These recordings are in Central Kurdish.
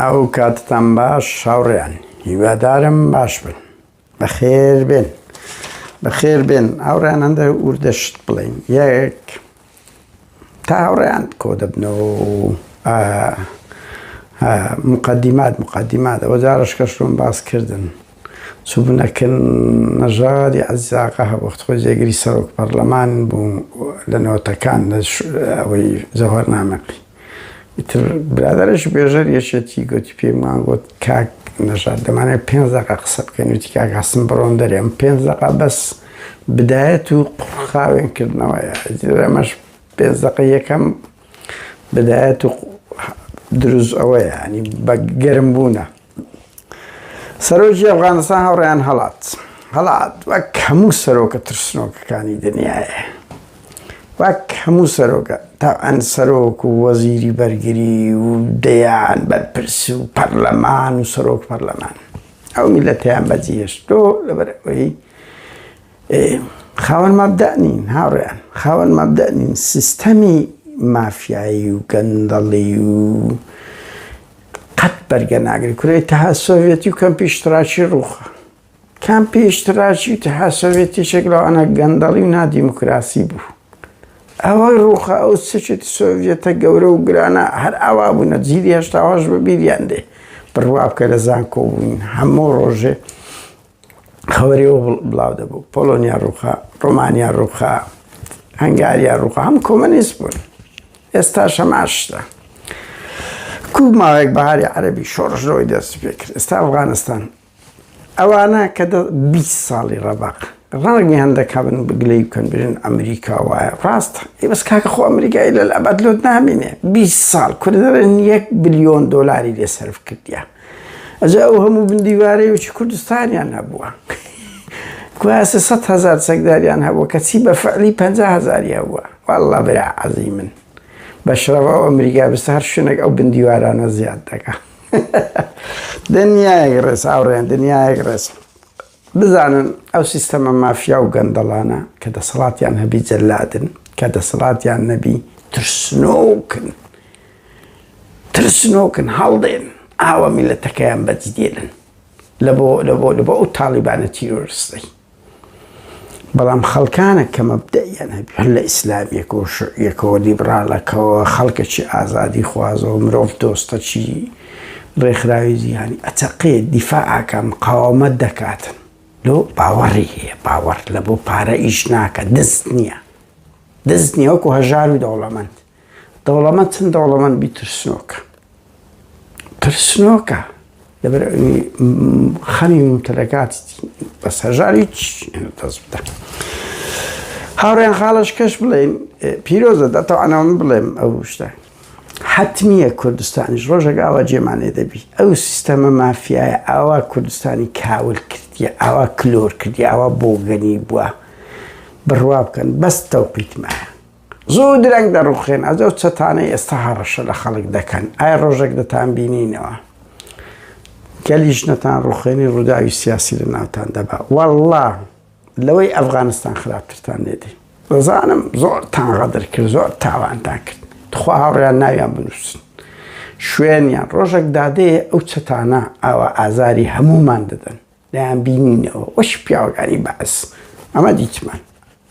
ئەو کاتتان باش هاوڕێیان هیوادارم باش بن بەخێر بێن بەخێر بێن هاوڕیان هەندە وردەشت بڵین یەک تا هاوڕیان کۆ دەبنەوە مقدمات مقدمات ئەوە جارش کەشتون باس کردن چوبنەکن نەژادی عزیزاقە هەبخت خۆ جێگری سەرۆک پەرلەمان بوو لە نەوەتەکان ئەوەی زەهۆر نامەقی ئیتر برادەرێکی بێژەر یەکێتی گوتی پێمان گوت کاک نەژاد دەمانێت پێ دقە قسە بکەین وتی کاک هەستم بڕۆن دەرێم پێ دقە بەس بدایەت و قڕخاوێن کردنەوەیە ئەمەش پێ دقە یەکەم بدایەت و دروست ئەوەیە ینی بە گەرم بوونە سەرۆکی ئەفغانستان هەوڕیان هەڵات هەڵات وەک هەموو سەرۆکە ترسنۆکەکانی دنیاە وەک هەموو سەرۆکە تا ئەن سەرۆک و وەزیری بەرگری و دەیان بەرپرس و پەرلەمان و سەرۆک پەرلەمان ئەو میلەتیان بەجیهێشتۆ لەبەر ئەوەی خاوەن مابدەنین هاوڕیان خاوەن مابدەنین سیستەمی مافیایی و گەندەڵی و قەت بەرگە ناگری کورە ئیتحاد سۆڤێتی و کەمپی ئیشتراکی ڕووخا کەمپی ئیشتراکی و ئیتحاد سۆڤێتی شێک لەوانە گەندەڵی و نادیموکراسی بوو ئەوەی ڕووخا ئەو سچێتی سۆڤێتە گەورە و گرانە هەر ئاوا بوونە جیلی هێشتاواش بە بیریان دێ بڕوا بکە لە زانکۆ بووین هەموو ڕۆژێ خەوەریەوە بڵاو دەبوو پۆلۆنیا ڕووخا ڕۆمانیا ڕووخا هەنگاریا ڕووخا هەم کۆمەنیست بوون ئێستا شەماشتە کوو ماوەیەک بەهاری عەربی شۆڕشەوەی دەست پێکرد ئێستا ئەفغانستان ئەوانە کە 20 ساڵی ڕەبق ڕاگی هەندەکە بن بگلەی بکەن برن ئەمریکا وایە ڕاستە ئی بەس کاکە خۆ ئەمریکای لە ئەبەت لۆت نامینێ 20 ساڵ کوردەرن یەک بلیۆن دۆلاری لێ سرف کردیە ئەجا ئەو هەموو بندیوارەی وچی کوردستانیان هەبووە کواسە سە هزار چەکداریان هەبوو کەچی بە فعلی پ هزاری هەبووە والله برا عەزی من بەشرەوە ئەو ئەمریکا بس هەر شوێنێک ئەو بندیوارانە زیاد دەکە دنیایەک ڕێز هاوڕێن دنیایەک ڕێز بزانن ئەو سیستەمە مافیا و گەندەڵانە کە دەسەڵاتیان هەبی جەلادن کە دەسەڵاتیان نەبی ترسنۆکن ترسنۆکن هەڵدێن ئاوە میلەتەکەیان بەجدێنن لە بۆ لە بۆ لە بۆ ئەو تاڵیبانە تیرۆرستەی بەڵام خەڵکانە کە مەبدەیان هەبی هەر لە ئیسلامیەک و شعیەکەوە لیبراڵەکەەوە خەڵکەکی ئازادی خوازەوە مرۆڤ دۆستەچی ڕێکخراوی جیهانی ئەچەقێت، دیفاع ئەکات، مقاوەمەت دەکات. لۆ باوەڕی هەیە، باوەڕ لە بۆ پارە ئیش ناکات، دەست نییە. دەست نییە وەکو هەژار و دەوڵەمەند. دەوڵەمەند چەند دەوڵەمەند بی ترسنۆکە. ترسنۆکە. لەبەر ئەوی خەمی مومتەلەکاتی بەس هەژار هیچ دەست بدە. هاوڕێیان خاڵەش کەش بڵێن پیرۆزە دەتەوانەوەم بڵێم ئەو شتە. حەتمیە کوردستانیش ڕۆژەک ئاوا جێمان لێ دەبی ئەو سیستەمە مافیایە ئاوا کوردستانی کاول کردیە ئاوا کلۆر کردی ئاوا بۆگەنی بووە بڕوا بکەن بەس تەوقیتمایە زۆر درەنگ دەڕوخێن ئەزە و چەتانەی ئێستا هەڕەشە لە خەڵک دەکەن ئایا ڕۆژێک دەتان بینینەوە گەلیش نەتان ڕوخێنی ڕووداوی سیاسی لە ناوتان دەبا والله لەوەی ئەفغانستان خراپترتان لێدەی دەزانم زۆر تان غەدر کرد زۆر تاوانتان کرد تخوا هاوڕیان ناویان بنووسن شوێنیان ڕۆژێک دادەیە ئەو چەتانە ئاوا ئازاری هەمومان دەدەن دەیان بینینەوە وەش پیاوەکانی بەعس ئەمە دیتمان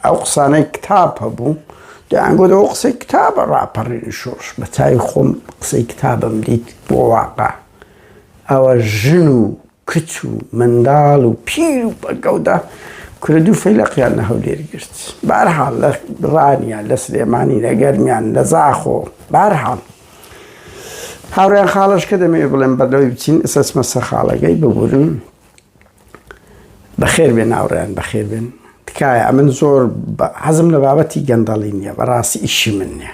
ئەو قسانەی کتاب هەبوو دەیانگۆدەوە قسەی کتابە ڕاپەڕین شۆش بە چای خۆم قسەی کتابم دیت بۆ واقع ئەوە ژن و کچ و منداڵ و پیر و پەکەوتە کورە دوو فەیلەقیان لە هەولێر گرت بارحاڵ لە ڕانیان لە سلێمانی لە گەرمیان لە زاخۆ بارحاڵ هاوڕێن خاڵش کە دەمەوێت بڵێن بەردەوەی بچین ئسەسمە سەرخاڵەکەی ببورن بەخێر بێن ناوڕیان بەخێر بێن تکایە ئەمن زۆر حەزم لە بابەتی گەندەڵی نییە بەڕاستی ئیشی من نیە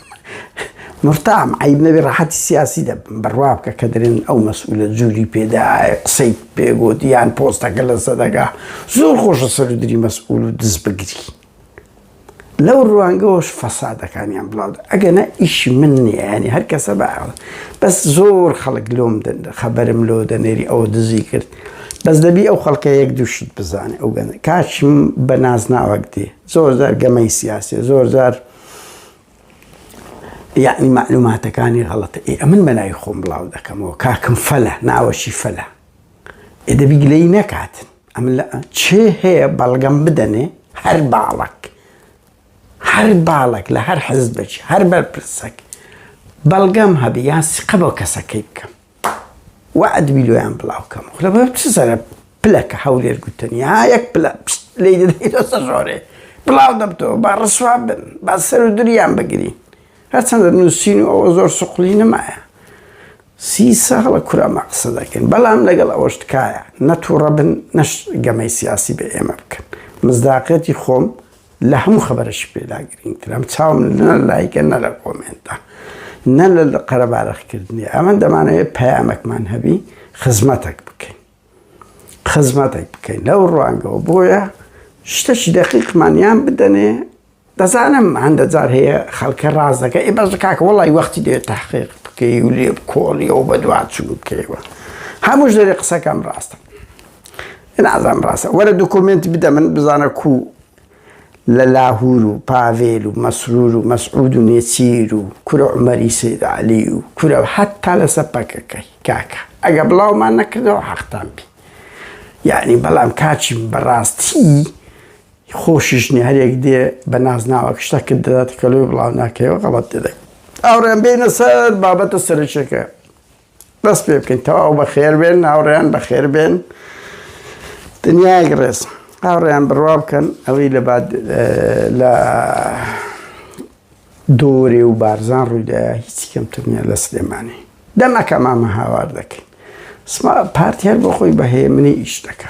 مورتام عەیب نەبێ ڕەحەتی سیاسی دە بڕوا بکە کە دەرێن ئەو مەسئولە جوری پێ دە قسەی پێ گۆت یان پۆستەکە لە سەدەگا زۆر خۆشە سەرودری مەسئول و دز بگری لەو ڕوانگەوەش فەسادەکانیان بڵاو ئەگەنە ئیشی من نیانی هەر کەسە بە بەس زۆر خەڵک لۆم دەن خەبەرم لۆ دەنێری ئەوە دزی کرد بەس دەبی ئەو خەڵکە یەک دووشت بزانێ ئەو گەن کاچم بە نازناوەک دێ زۆر زار گەمەی سیاسێ زۆر زار یەعنی مەعلوماتەکانی غەڵەتە ئێ ئەمن بەناوی خۆم بڵاو دەکەمەوە کاکم فەلە ناوەشی فەلە ئێ دەبی گلەیی نەکاتن ئەمن لە چێ هەیە بەڵگەم بدەنێ هەر باڵک هەر باڵک لە هەر حزبێکی هەر بەرپرسەک بەڵگەم هەبی یان سقە بۆ کەسەکەی بکەم وەعد بیلۆیان بڵاو کەم خولە بە چ سەرە پلە کە هەولێر گوتنی ها یەک پلە پشت لێی دەدەی دەسە ژۆرێ بڵاو دەبتەوە با ڕسوا بن با سەر و دریان بگری هەرچەندە نووسین و ئەوە زۆر سوقلی نمایە سی ساڵە کورەمە قسە دەکەن بەڵام لەگەڵ ئەوەش تکایە نەتوڕە بن نەش گەمەی سیاسی بە ئێمە بکەن مزداقەتی خۆم لە هەموو خەبەرەشی پێدا گرینگترم چاوم نە لایکە نە لە کۆمێنتە نە لە قەرەبارەخکردنی ئەمە دەمانەوێت پەیامەکمان هەبی خزمەتەک بکەین خزمەتێک بکەین لەو ڕوانگەوە بۆیە شتەشی دەقیقمانیان بدەنێ دەزانم هەندە جار هەیە خەڵکە ڕاز دەکە ئێ بەش کاکە وڵی وەختی دێت تاحقیق بکەی و لێ کۆڵیەوە بە دوواچوو بکەیوە هەمووش دەێ قسەکەم ڕاستە نازانم ڕاستە وەرە دۆکۆمێنت بدە من بزانە کوو لە لاهور و پاڤێل و مەسرور و مەسعود و نێچیر و کورە عومەری سید عەلی و کورە حەتا لەسە پەکەکەی کاکە ئەگە بڵاومان نەکردەوە حەقتان بی یعنی بەڵام کاچی بەڕاستی خۆشیشنی هەرێک دێ بە نازناوەک شتەکرد دەدات کەلوی بڵاو ناکەەوە غەڵەت دەدەک ئاڕێن بینە سەر بابەتە سەرچەکە دەست پێ بکەین تەواو بەخێر بێن ناوڕێیان بەخێر بێن دنیایەک ڕێز هاوڕێیان بڕوا بکەن ئەوەی لە لە دۆرێ و بارزان ڕوویدا هیچ کەمتر نیە لە سلێمانی دەمەکە مامە هاوار دەکەین پارتی هەر بۆ خۆی بەهەیە منی ئیش دەکە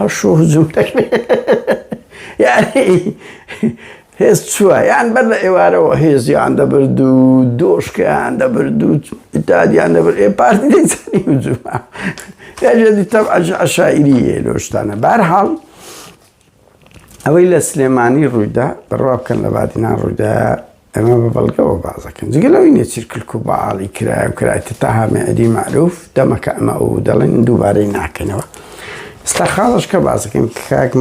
ئەشوو هجوم دەکرێ یانی هێز چووە یان بەر لە ئێوارەوە هێزیان دەبرد و دۆشکیان دەبرد و ئیتادیان دەبرد ئێ پارتی دەیزانی هجومە یاژێدی تەب عشاعیری یە لۆشتانە بارحاڵ ئەوەی لە سلێمانی ڕوویدا بڕوا بکەن لە بادینان ڕوویدا ئەمە بە بەڵگەوە باس دەکەن. جگە لەوەی نێچیر کلک و بەعاڵی کرایە و کرایتە تاها مێعدی مەعروف، دەمەکە ئەمە ئەو دەڵێن دووبارەی ناکەنەوە. ئێستا خاڵێش کە باس دەکەین کاک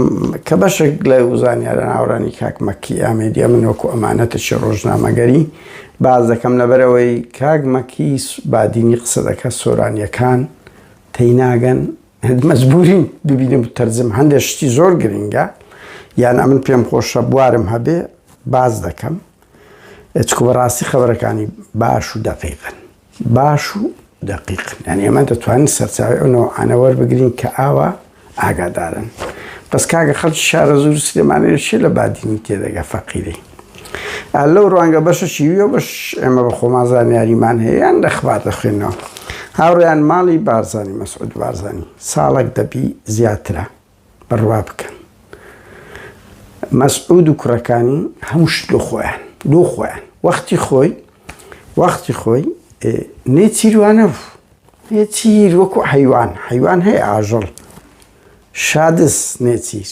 کە بەشێک لە زانیارە ناوەڕانی کاک مەکی ئامێدیە من وەکو ئەمانەتێکی ڕۆژنامەگەری باس دەکەم لەبەرەوەی کاک مەکی بادینی قسە دەکات سۆرانیەکان تێی ناگەن مەجبوریم ببینم و تەرجم هەندێک شتی زۆر گرنگە یان ئەمن پێم خۆشە بوارم هەبێ باز دەکەم چکو بەڕاستی خەبەرەکانی باش و دەقیقن باش و دەقیقن یان ئێمە دەتوانین سەرچاوی ئەوەوە ئەنەوەەر بگرین کە ئاوا ئاگادارن بەس کاگە خەڵکی شارە زور سلێمانەیەشی لە بادینی تێدەگە فەقیری لەو ڕوانگە بەشە شیویەوە بەش ئێمە بە خۆمان زانیاریمان هەیە یان لەخبات دەخوێنەوە هاوڕیان ماڵی بارزانانی مەسعود بارزانانی ساڵک دەبی زیاترە بڕوا بکەن مەسعود و کوڕەکانی هەمشت لۆ خۆیان لۆ خۆیان وەختی خۆی وەختی خۆی نێ چیروانە بوو نێ چیر وەکو حیوان حیوان هەیە ئاژەڵ شادس نێچیر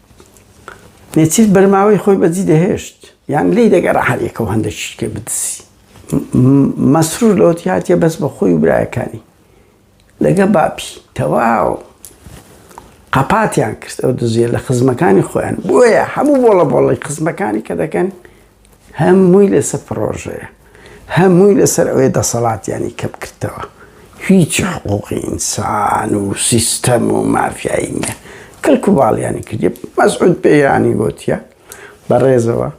نێچیر بەرماوەی خۆی بەجی دەهێشت یان لێی دەگەرا هەریەکە و هەندە شتێ بدسی مەسرور لەوە هاتیە بەس بە خۆی و برایەکانی لەگە باپی تەواو قەپاتیان کرد ئەو دزیە لە خزمەکانی خۆیان بۆیە هەموو بۆڵە بۆڵی خزمەکانی کە دەکەن هەمووی لەسەر پڕۆژەیە هەمووی لەسەر ئەوەی دەسەڵاتیانی کەم کردەوە هیچ حقوقی ئینسان و سیستەم و مافیایی نیە کەلک و باڵیانی کردی مەسعود پێیانی گوتیە بە ڕێزەوە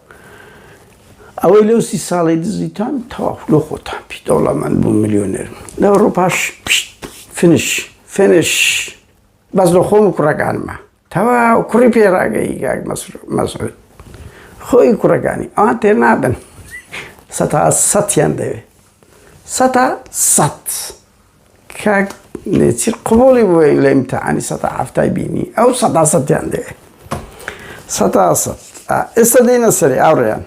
ئەوەی لەو سی ساڵی دزیتان تەواف لۆ خۆتان پی دەوڵەمەند بوو ملیۆنێر لە ئەوڕۆپاش فنش فنش بەس لە خۆم و کوڕەکانمە تەواو کوڕی پێراگەی گاک مەسعود خۆی کوڕەکانی ئەوان تێ نابن سەتا سەیان دەوێت سەتا سەد کاک نێچیر قوڵی بووە لە امتحانی سەتا هەفتای بینی ئەو سەتا سەیان دەوێت سەتا سەد ئێستا دێنە سەری ئاڕێیان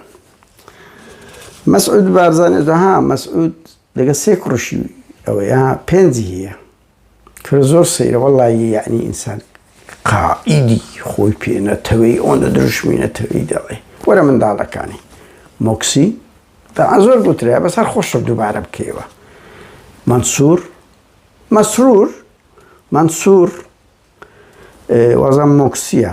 مەسعود بارزانێت ها مەسعود لەگە سێ کوڕشی ئەوەیە پێنجی هەیە کورە زۆر سەیرە وەڵایی یەعنی ئینسان قائیدی خۆی پێ نەتەوێی ئەوەندە دروشمی نەتەوێی دەڵێ وەرە منداڵەکانی مۆکسی تەعا زۆر گوترێ بەس هەر خۆشە دووبارە بکەیەوە مەنسوور مەسرور مەنسوور وازان مۆکسیە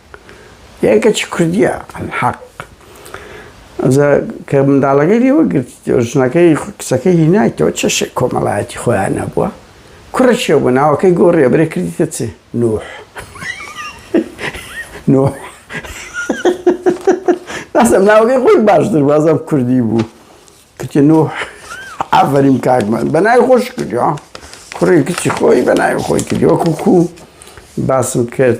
یای کەچی کوردیە حەق کە منداڵەکەی لێوە گرت ژنەکەی قسەکەی هینایتەوە چەشێ کۆمەڵایەتی خۆیان نەبووە کوڕە چێ بوو ناوەکەی گۆڕێ برێ کردیتە چێ نوح نوح ناسم ناوەکەی خۆی باشتر بازم کوردی بوو کچ نوح ئافرین کاکمان بەناوی خۆش کردی کوڕی کچی خۆی بەناوی خۆی کردی وەکو کو باسم کرد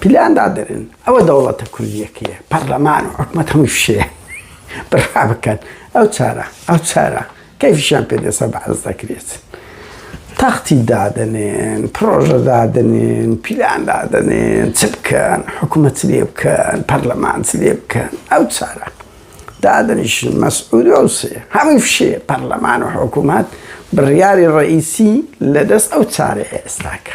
پلان دادەنێن ئەوە دەوڵەتە کوردیەکەیە پەرلەمان و حکومەت هەموو فشەیە بڕا بکەن ئەو چارە ئەو چارە کەفیشیان پێدەسە بەعز دەکرێت تەختی دادەنێن پرۆژە دادنێن پیلان دادەنێن چ بکەن حکوومەت لێ بکەن پەرلەمان لێ بکەن ئەو چارە دادنیشن مەسعودۆسێ هەمووی فشێ پەرلەمان و حکوومەت بڕیاری ڕئیسی لە دەست ئەو چارە ئێستاکە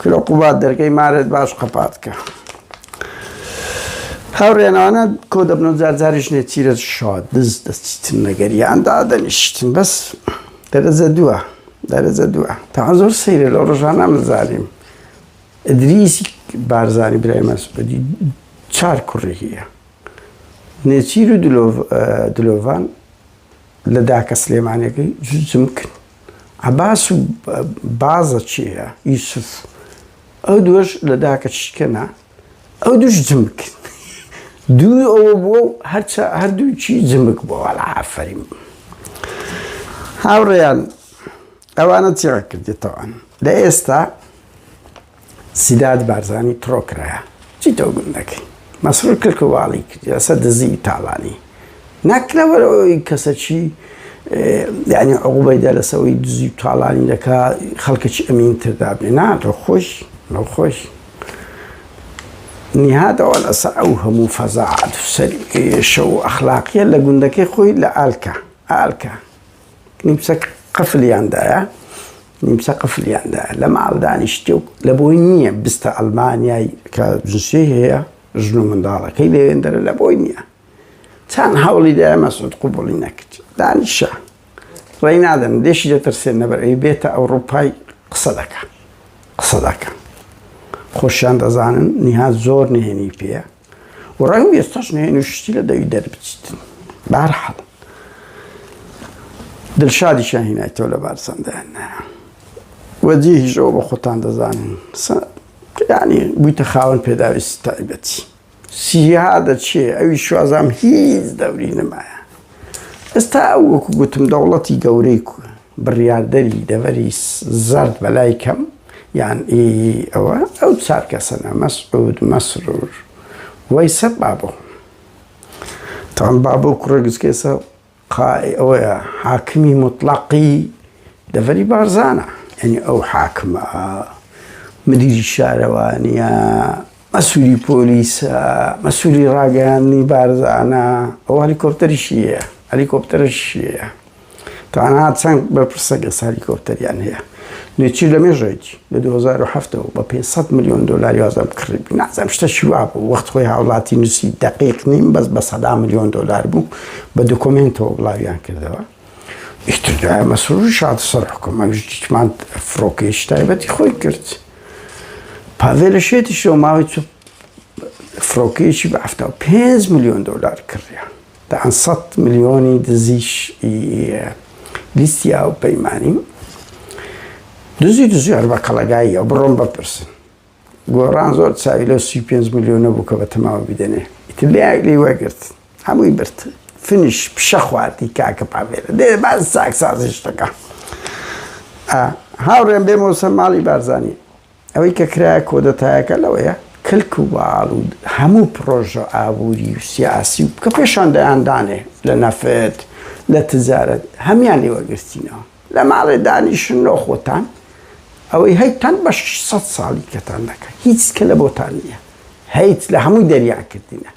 کرۆ قوباد دەرگەی مارت باش قەپات کە. هاوڕێنانە کۆ دەبن و جارجاریش نێچیرە شاد دز دەچیتن لەگەریان دادەنیشتن بەس دەرەجە دووە دەرەجە دووە تا زۆر سەیرە لە ڕژانە مزانیم ئەدریسی بارزانانی برای مەسبدی چار کوڕی هەیە نێچیر و دلۆڤان لە داکە سلێمانەکەی جوجم کرد عەباس و بازە چێە یوسف ئەو دووەش لە داکە چیکەنا ئەو دوش جمک دووی ئەوە بووە و هەرچە هەردووچی جمک بۆوە لە ئافرین هاوڕێیان ئەوانە چێڕە کردێتەوەن لە ئێستا سیداد بارزانی تڕۆ کرایە چی تۆ گوم دەکەی مەسرور کلک و واڵی کردی لەسەر دزی و تاڵانی نەک لەبەر ئەوەی کەسەکی یعنی عقوبەیدا لەسەوەی دزی و تاڵانی دەکا خەڵکەکی ئەمین تردا بێ نا تۆ خۆش لەو خۆش نهادەوە لەسەر ئەو هەموو فەزاعات سەر شەو ئەخلاقیە لە گوندەکەی خۆی لە ئالکە ئالکە نیمچە قفلیاندایە نیمچە قفلیاندا لە ماڵ دانیشتی و لە بۆی نییە بستە ئەلمانیای کە جنسی هەیە ژن و منداڵەکەی لێوێندەرە لە بۆی نییە چەند هەوڵی دای مەسود قوبڵی نەکرد دانیشە ڕێ نادەن دێشی دەترسێن نەبەر ئەی بێتە ئەوروپای قسە دەکە قسە دەکە خۆشیان دەزانن نیها زۆر نهێنی پێە و ڕەنگ و ئێستاش نوێن و شتی لە دەوی دەربچیت بارحەڵ دلشادی شاهینای تۆ لە بارسەندایان نایە وەجی هیژەوە بە خۆتان دەزانین ینی بوویتە خاوەن پێداویست تایبەتی سیها دەچێ ئەوی شوازام هیچ دەوری نمایە ئێستا ئەو وەکو گوتم دەوڵەتی گەورەی کوە بڕیاردەری دەڤەری زەرد بە لای کەم یان ئی ئەوە ئەو چار کەسەنە مەسعود مەسرور وەیسە بابۆ تان بابۆ کوڕە گچکێسە قای ئەوەیە حاکمی مطلقی دەڤەری بارزانە یعنی ئەو حاکمە مدیری شارەوانیە مەسولی پۆلیسە مەسولی ڕاگەیاندنی بارزانە ئەو هەلیکۆپتەریشی هەیە هەلیکۆپتەرشی هەیە تانا چەند بەرپرسەکە هەلیکۆپتەریان هەیە لێچی لە مێژێک لە 2007ەوە بە 500 میلیۆن دلاری وازم کڕی نازم شتە شوا بوو وەخت خۆی هاوڵاتی نووسی دقیق نیم بەس بە سەدا میلیۆن دلار بوو بە دکۆمنتەوە بڵاویان کردەوە ئیتر مەسرور شاد سەر حکومە ژمان فڕۆکەی شتایبەتی خۆی کرد. پاڤێلەشێتیشەوە ماوەی چ فڕۆکەیەکی بە هەفتا و پێنج ملیۆن دۆلار کڕیە دەیان سەد ملیۆنی دزیش لیستی ئاو پەیمانیم دزی دزی هەر بە قەڵەگاییە بڕۆم بەپرسن گۆڕان زۆر چاوی لە سی پێنج ملیۆنە بوو کە بە تەماوە بدەنێ ئیتر لە یاگلی وەگرت هەمووی برد فنش پشە خواردی کاکە پاڤێرە دێ باز چاکسازی شتەکە هاوڕێن بێ مۆسە ماڵی بارزانانی ئەوەی کە کرایە کۆدەتایەکە لەوەیە کلک و باڵ و هەموو پرۆژە ئابووری و سیاسی و کە پێشان دەیاندانێ لە نەفت لە تجارەت هەمان لێوەگرتینەوە لە ماڵێ دانیشن نۆخۆتان ئەوەی هەیتان بە 600 ساڵی کەتان دەکەن هیچ کە لە بۆتان نییە هەیت لە هەمووی دەریان کردینە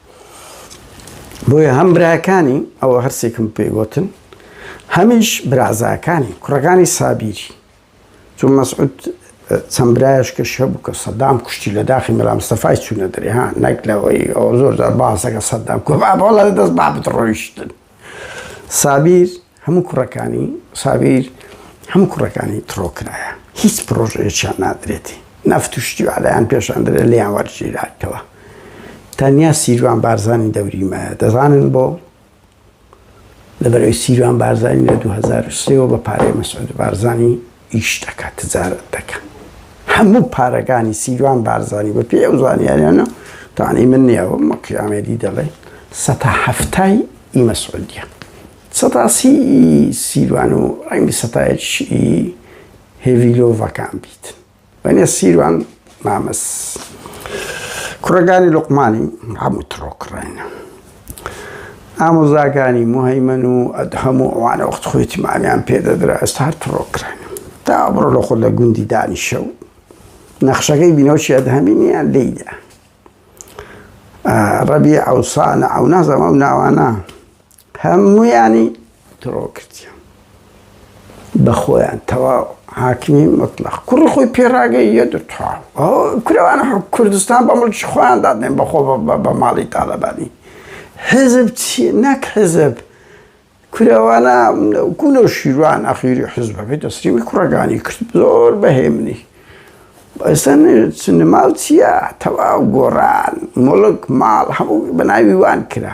بۆیە هەم براکانی ئەوە هەرسێکم پێگوتن هەمیش برازاکانی کوڕەکانی سابیری چون مەسعود چەند برایش کە شە بوو کە سەدام کوشتی لە داخی مەلامستەفای چوونە دەرێ ها نەک لەوەی ئەو زۆر باسەکە سەدام کۆباڵە دەست با بڕۆیشتن سابیر هەموو کوڕەکانی سابیر هەموو کوڕەکانی تڕۆ کرایە هیچ پرۆژەیەکیان نادرێتی نەفت و شتی و عەلایان پێشان درێت لێیان وەرگیراتەوە تەنیا سیروان بارزانانی دەوریمایە دەزانن بۆ لەبەرەوەی سیروان بارزانانی لە 2023ەوە بە پارەی مەسعود بارزانانی ئیش دەکا تجارەت دەکا هەموو پارەکانی سیروان بارزانی بە پێی ئەو زانیاریانە تانی من نیە بم وەکی ئامێدی دەڵێ سەتا هەفتای ئی مەسعودیە سەتا سی سیروان و ڕەنگی سەتایەکی هێڤیلۆڤەکان بیت بەنێ سیروان مامەس کوڕەکانی لوقمانی هەموو تڕۆ کڕێنە ئامۆزاکانی مهیمەن و ئەدهەم و ئەوانە وەخت خۆی تیمانیان پێدەدرا ئێستا هەر تڕۆ کڕێن تا بڕۆ لە خۆ لە گوندی دانیشە و نەخشەکەی بینەوەشی ئەدهەمی نیە لێیدا ڕەبی ئەوسانە ئەو نازەمە و ناوانە هەموویانی تڕۆ کردیان بە خۆیان تەواو حاکمی مطلق کوڕی خۆی پێراگەی یە دتوا کورەوانە کوردستان بە مڵکی خۆیان دادێن بەخۆ بە ماڵی تاالبانی حزب چی نەک حزب کورەوانە گولە و شیروان ئەخیری حزبەکەی دەستریوی کوڕەکانی کرد زۆر بەهێمنی ئێستا سنماڵ چییە تەواو گۆڕان مڵک ماڵ هەموو بەناوی وان کرا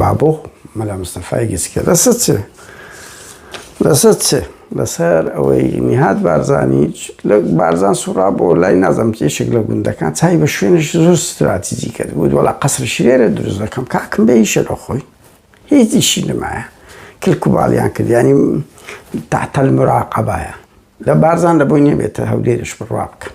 بابۆ مەلا مستەفای گچکە لەسەر چ لەسەر چ لەسەر ئەوەی نیهات بارزانی بارزان سوڕا بۆ لای نازم کێشێک لە گوندەکان چای بە شوێنش زۆر استراتیجی کرد بوو وڵا قەسر شرێرە دروست دەکەم کاکم بە هیشە لە خۆی هیچیشی نمایە کلک و باڵیان کرد ینی تاتەل مراقەبایە لە بارزان لە بۆی نێبێتە هەولێرش بڕوا بکەم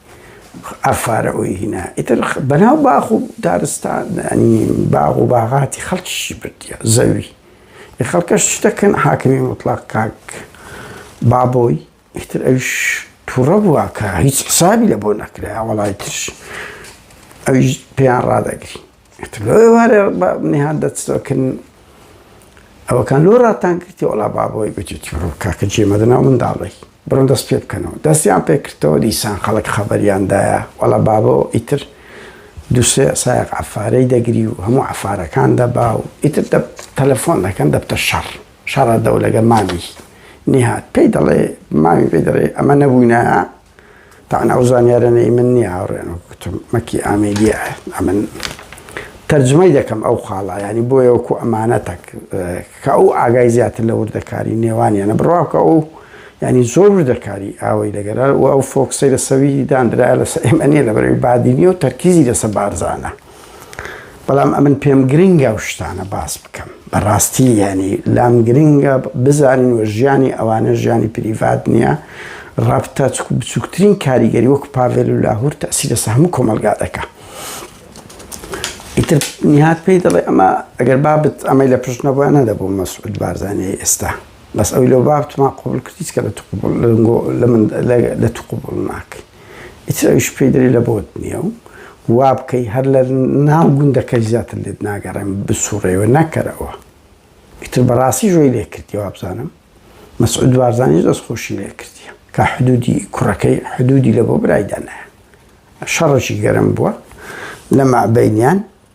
ئەفارە ئوی هینا ئیتر بەناو باخ و دارستان ینی باغ و باغاتی خەڵکیشی بردیە زەوی ی خەڵکەش چ دەکەن حاکمی مطلق کاک بابۆی ئیتر ئەوش تووڕە بووە کە هیچ حسابی لە بۆ نەکرێ وەڵای ترش ئەویش پێیان ڕادەگری ئیتر لۆ ئێوارێ بە میهان دەچتۆکن ئەوەکان لۆ ڕاتان کردی وەڵا بابۆی گوتی چڕۆ کاکە جێ مەدەنا و منداڵی بڕۆن دەست پێ بکەنەوە دەستیان پێ کردەوە دیسان خەڵک خەبەریاندایە وەڵا بابۆ ئیتر دووسێ سایەق عەفارەی دەگری و هەموو عەفارەکان دەبا و ئیتر دە تەلەفۆن دەکەن دەبتە شەڕ شەڕە دەولەگە مامی نیهات پێی دەڵێ مامی پێی دەڵێ ئەمە نەبووینە تەعن ئەو زانیارەنە ئی من نییە هاوڕێیان وەکو گوتم مەکی ئامێدیە ئەمن تەرجمەی دەکەم ئەو خاڵە ینی بۆیە وەکو ئەمانەتەک کە ئەو ئاگای زیاتر لە وردەکاری نێوانیانە بڕواکە ئەو ینی زۆر وردەکاری ئاوەی لەگەرە و ئەو فۆکسەی لە سەویری دانرایە لەسەر ئێمە نیە لە بەرەوی بادینی و تەرکیزی لەسە بارزانە بەڵام ئەمن پێم گرنگە و شتانە باس بکەم بەڕاستی یعنی لام گرنگە بزانین و ژیانی ئەوانە ژیانی پریڤات نییە ڕابتە بچووکترین کاریگەری وەکو پاڤێل و لاهور تاسی لەسە هەموو کۆمەلگا دەکە ئیتر نهات پێی دەڵێ ئەمە ئەگەر بابت ئەمەی لە پشت نەبووە نەدەبوو مەسعود بارزانانی ئێستا بەس ئەوی لەو بابتمان قوبل کردیت کە لە لە من لە تو قوبڵ ناکەین ئیتر ئەویش پێی دەرێ لە بۆت نییە و وا بکەی هەر لە ناو گوندەکەش زیاتر لێت ناگەڕێم بسووڕێوە نەکەرەوە. ئیتر بەڕاستی ژۆی لێ کردیە وابزانم مەسعود بارزانیش دەستخۆشی لێ کردیە کە حدوودی کوڕەکەی حدوودی لە بۆ برایدا نایە. شەڕێکی گەرم بووە لە مابەینیان.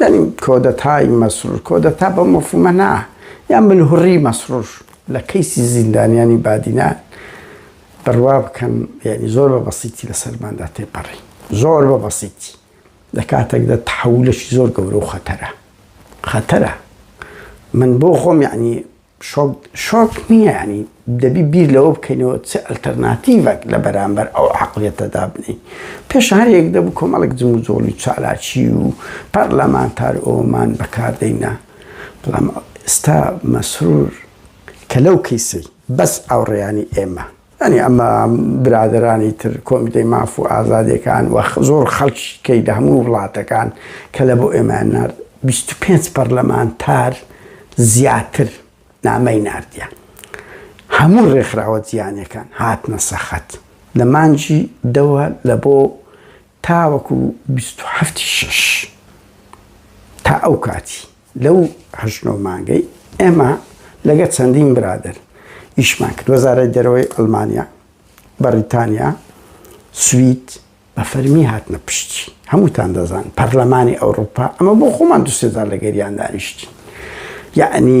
یانی کۆدەتای مەسرور کۆدەتا بەو مەفهومە نا یان ملهوڕی مەسرور لە کەیسی زیندانیانی بادینان بڕوا بکەن یعنی زۆر بە بەسیتی لە سەرماندا تێپەڕی زۆر بە بەسیتی لە کاتێکدا تحولەشی زۆر گەورە و خەتەرە خەتەرە من بۆ خۆم یعنی شۆک شۆک نییە یانی دەبی بیر لەوە بکەینەوە چ ئەلتەرناتیڤەک لە بەرامبەر ئەو عەقڵیەتە دابنێین پێش هەر یەک دەبوو کۆمەڵێک جموجۆڵی چالاکی و پەرلەمانتار ئەوەمان بەکاردەینا بەڵام ئێستا مەسرور کە لەو کیسەی بەس ئاوڕیانی ئێمە یانی ئەمە برادەرانی تر کۆمیتەی ماف و ئازادیەکان وە زۆر خەڵکی کەی لە هەموو وڵاتەکان کە لە بۆ ئێمە نار 25 پەرلەمانتار زیاتر نامەی نردیان هەموو ڕێکخراوە زیانەکان هاتنە سەخت لە مانجی دەوە لە بۆ تاوەکو بیست و حەفت ی شەش تا ئەو کاتی لەو هەشت نۆ مانگەی ئێمە لەگە چەندین برادەر ئیشمان کرد وەزارەت دەرەوەی ئەلمانیا بەڕیتانیا سوید بە فەرمی هاتنە پشتی هەمووتان دەزان پەرلەمانی ئەوروپا ئەمە بۆ خۆمان دوسێزار لەگەریان دانیشتی یعنی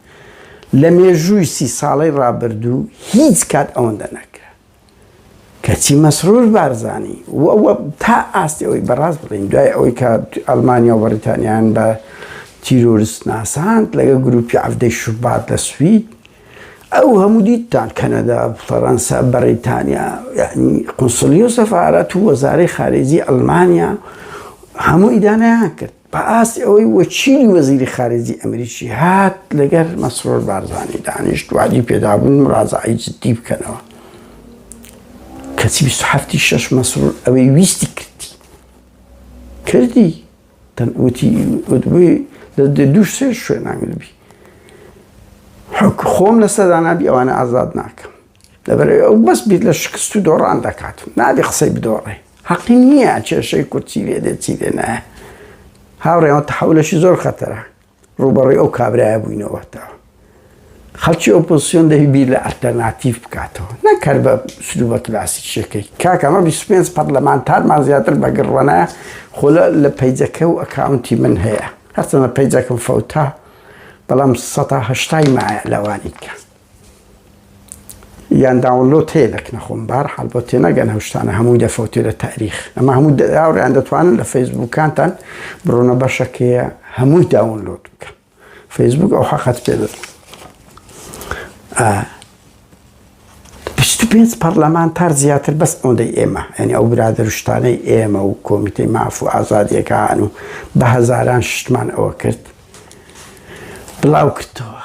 لە مێژووی سی ساڵەی ڕابردوو هیچ کات ئەوەندە نەکرا. کەچی مەسرور بارزانی و ئەوە تا ئاستی ئەوەی بەڕاست بڵێین دوای ئەوەی کە ئەڵمانیا و بەڕیتانیان بە تیرۆرست ناساند لەگە گروپی عەفدەی شوبات لە سوید ئەو هەموو دیتان کەنەدا فەڕەنسا بەڕیتانیا یعنی قنسلی و سەفاارەت و وەزارەی خارێزی ئەلمانیا هەموو ئیدانیان کرد بە ئاستی ئەوەی وەچیلی وەزیری خارجی ئەمریکی هات لەگەر مەسرۆر بارزانانی دانیشت وادی پێدابوون مڕازعی جددی بکەنەوە کەچی هەفتی شەش مەسرور ئەوەی ویستی کردی کردی تەنوتی وتبووی لە دوو سێ شوێنانگربی حک خۆم لەسەر دانابی ئەوانە ئازاد ناکەم دەبێت ئەو بەس بیت لە شکست و دۆڕان دەکات و نابێ قسەی بدۆڕێ حەقی نییە کێشەی کورد چی لێ دێت چی لێ نایە هاوڕێەوە تەحولەشی زۆر خەتەرە ڕوبەڕی ئەو کابرایە بووینەوەتەوە خەڵکی ئۆپۆسیۆن دەهی بیر لە ئەلتەرناتیف بکاتەوە نەکرد بە سلو بە کلاسی شەکەی کاکەمە 25 پەرلەمانتارمان زیاتر بەگەڕوانە خۆلە لە پیجەکە و ئەکاونتی من هەیە هەرچەنە پیجەکەم فەوتا بەڵام 1970 مایە لەوانی کە یان داونلۆد هەیە لە کنەخۆم بار حال بۆ تێنەگەن هەشتانە هەمووی دەفەوتێ لە تاریخ ئەمە هەموو داوریان دەتوانن لە فەیسبووکانتان بڕۆنە بەشەکەیە هەمووی داونلۆد بکە فەیسبوک ئەو حەقەت پێ دەێت پێنج پەرلەمانتار زیاتر بەس ئەوەندەی ئێمە ئەنی ئەو برادرشتانەی ئێمە و کۆمیتەی ماف و ئازادیەکان و بە هەزاران شتمان ئەوە کرد بڵاو کردەوە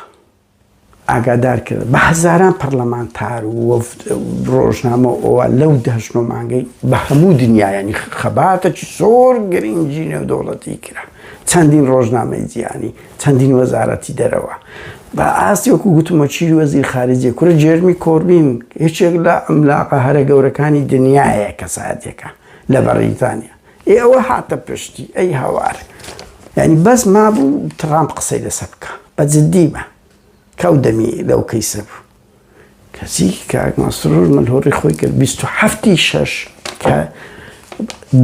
ئاگادار کرد بە هەزاران پەرلەمانتار و وەفد ڕۆژنامە ئەوە لەو دەهشت و مانگەی بە هەموو دنیایانی خەباتەکی زۆر گرنگی نێودەوڵەتی کرا چەندین ڕۆژنامەی جیانی چەندین وەزارەتی دەرەوە بە ئاستی وەکو گوتمە چی وەزیر خارجی کورە جێرمی کۆربین هیچێک لە ئەملاقە هەرە گەورەکانی دنیاە کەساتێکە لە بەڕیتانیا ئێ ئەوە هاتە پشتی ئەی هاوار یانی بەس مابوو تڕامپ قسەی لەسە بکە بە جددی بە کەو دەمی لەو کەیسە بوو کەسی کاک مەسرور من هۆڕی خۆی کرد 27 شش کە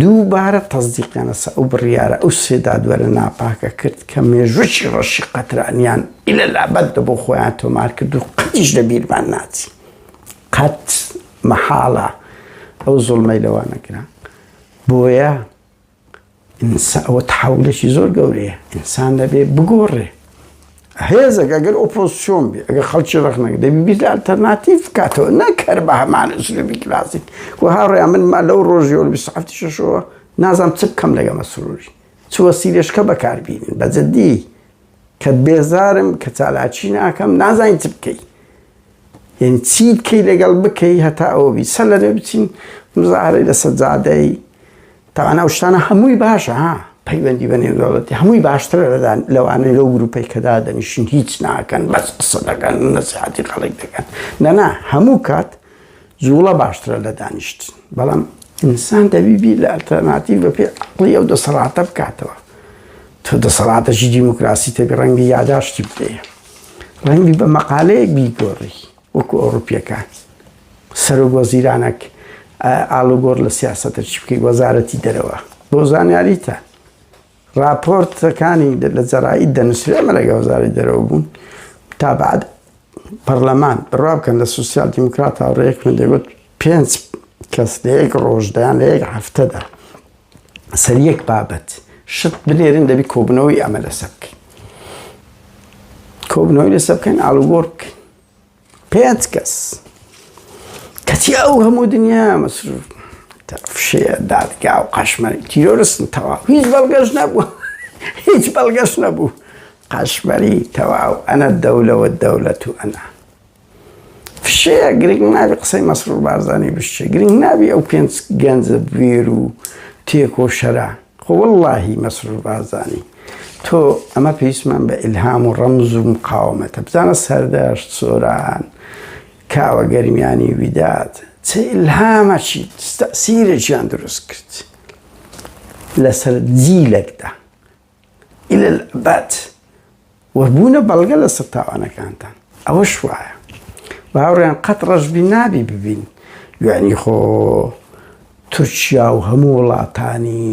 دووبارە تەزدیقیانەسە ئەو بڕیارە ئەو سێدادوەرە ناپاکە کرد کە مێژووی ڕەشی قەترانیان ئیلە لابەت دە بۆ خۆیان تۆمار کرد و قەتیش لە بیرمان ناچی قەت مەحاڵە ئەو زۆڵمەی لەوانەگران بۆیە ئینسا ئەوە تەحەولێکی زۆر گەورەیە، ئینسان دەبێ بگۆڕێ. هێزێک ئەگەر ئۆپۆزسیۆن بێ، ئەگەر خەڵکی ڕەخنە گرێ، دەبێ بیر لە ئەلتەرناتیڤ بکاتەوە، نەک هەر بە هەمان ئوسلوبی کلاسیک. وە هاوڕێیان من ما لەو ڕۆژیەوە لە بیست و حەفتی شەشەوە نازانم چ بکەم لەگەڵ مەسرووری. چ وەسیلەشکە بەکار بینن. بە جدی کە بێزارم، کە چالاکی ناکەم، نازانی چ بکەی. یانی چی بکەی لەگەڵ بکەی هەتا ئەوە بی سەر لەنێ بچین مزاهرەی لەسەر جادەی تاوان ئەو شتانە هەمووی باشە ها پەیوەندی بە نێودەوڵەتی هەمووی باشتر لەدان لەوانەی لەو گروپەی کەدا دەنیشین هیچ ناکەن بەس قسە دەکەن نەسیحەتی خەڵک دەکەن نەنا هەموو کات جوڵە باشترە لە دانیشت بەڵام ئینسان دەبیبی لە ئەلتەرناتیڤ بە پێ عقڵی ئەو دەسەڵاتە بکاتەوە تۆ دەسەڵاتەشی دیموکراسی تەبی ڕەنگی یاداشتی بدەیە ڕەنگبی بە مەقالەیەک بیگۆڕی وەکو ئەوروپیەکان سەرۆک وەزیرانەک ئالوگۆڕ لە سیاستە چی بکەی وەزارەتی دەرەوە بۆ زانیاریتە راپۆرتەکانی لە جەرایی دەنووسری ئەمە لەگە وەزاری دەرەوە بوون تا بعد پەرلەمان بڕا بکەن لە سوسیال دیموکرات هاوڕێک من دەگوت پێنج کەس لە یەک ڕۆژدایان لە یەک هەفتەدا سەر یەک بابەت شت بنێرن دەبی کۆبنەوەی ئەمە لەسە بکەین کۆبنەوەی لەسە بکەین ئالوگۆر بکەین پێنج کەس کەچی ئەو هەموو دنیا مەسروف فشێ دادگا و قەشمەری تیرۆرستن تەواو هیچ بەڵگەش نەبوو هیچ بەڵگەش نەبوو قەشمەری تەواو ئەنە دەولەوە دەولەت و ئەنا فشەیە گرنگ نابی قسەی مەسرور بارزانی بشچێ گرنگ نابی ئەو پێنج گەنجە بوێر و تێکۆ شەرە خۆ واللهی مەسرور بارزانی تۆ ئەمە پێویستمان بە ئیلهام و ڕەمز و مقاومەتە بزانە سەردەشت سۆران کاوە گەرمیانی ویداد چ ئیلهامەچی تەسیرێکیان دروست کرد لەسەر جیلێکدا الى الابد و بوونە بەڵگە لەسەر تاوانەکانتان ئەوەش وایە باوڕیان قەت ڕەشبی نابی ببین یعنی خۆ تورکیا و هەموو وڵاتانی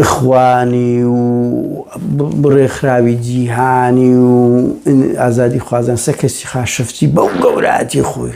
خوانی و بڕێکخراوی جیهانی و ئازادی خوازان سەکەسی خاشفتی بەو گەوراتی خۆی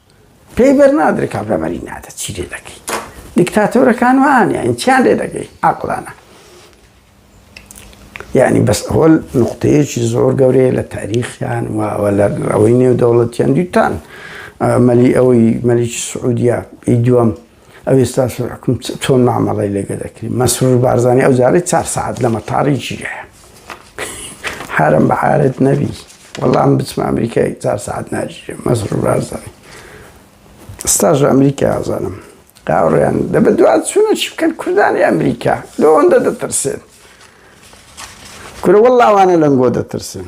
پێی بەرنادرێ کابرا مەری نادە چی لێ دەکەی دیکتاتۆرەکان وانیان چیان لێ دەگەی عقلانە یعنی بەس هۆل نقطەیەکی زۆر گەورەیە لە تاریخیان وەوە لە ڕەوەی نێو دەوڵەتیان دیتان مەلی ئەوەی مەلیکی سعودیا ئی دووەم ئەو ئێستا سەرحکم چۆن مامەڵی لەگە دەکری مەسرور بارزانانی ئەو جارەی چار سعات لە مەتاری ژیە حرم بە عارت نەبی وەڵام بچمە ئەمریکای چار سعات ناژیە مەسرور بارزانانی ستاژ ئەمریکا ئازانم قاوڕیان دە بە دوات چونە چی بکەن کوردانی ئەمریکا لەوەندە دەترسێن کورە وەڵاوانە لەنگۆ دەترسن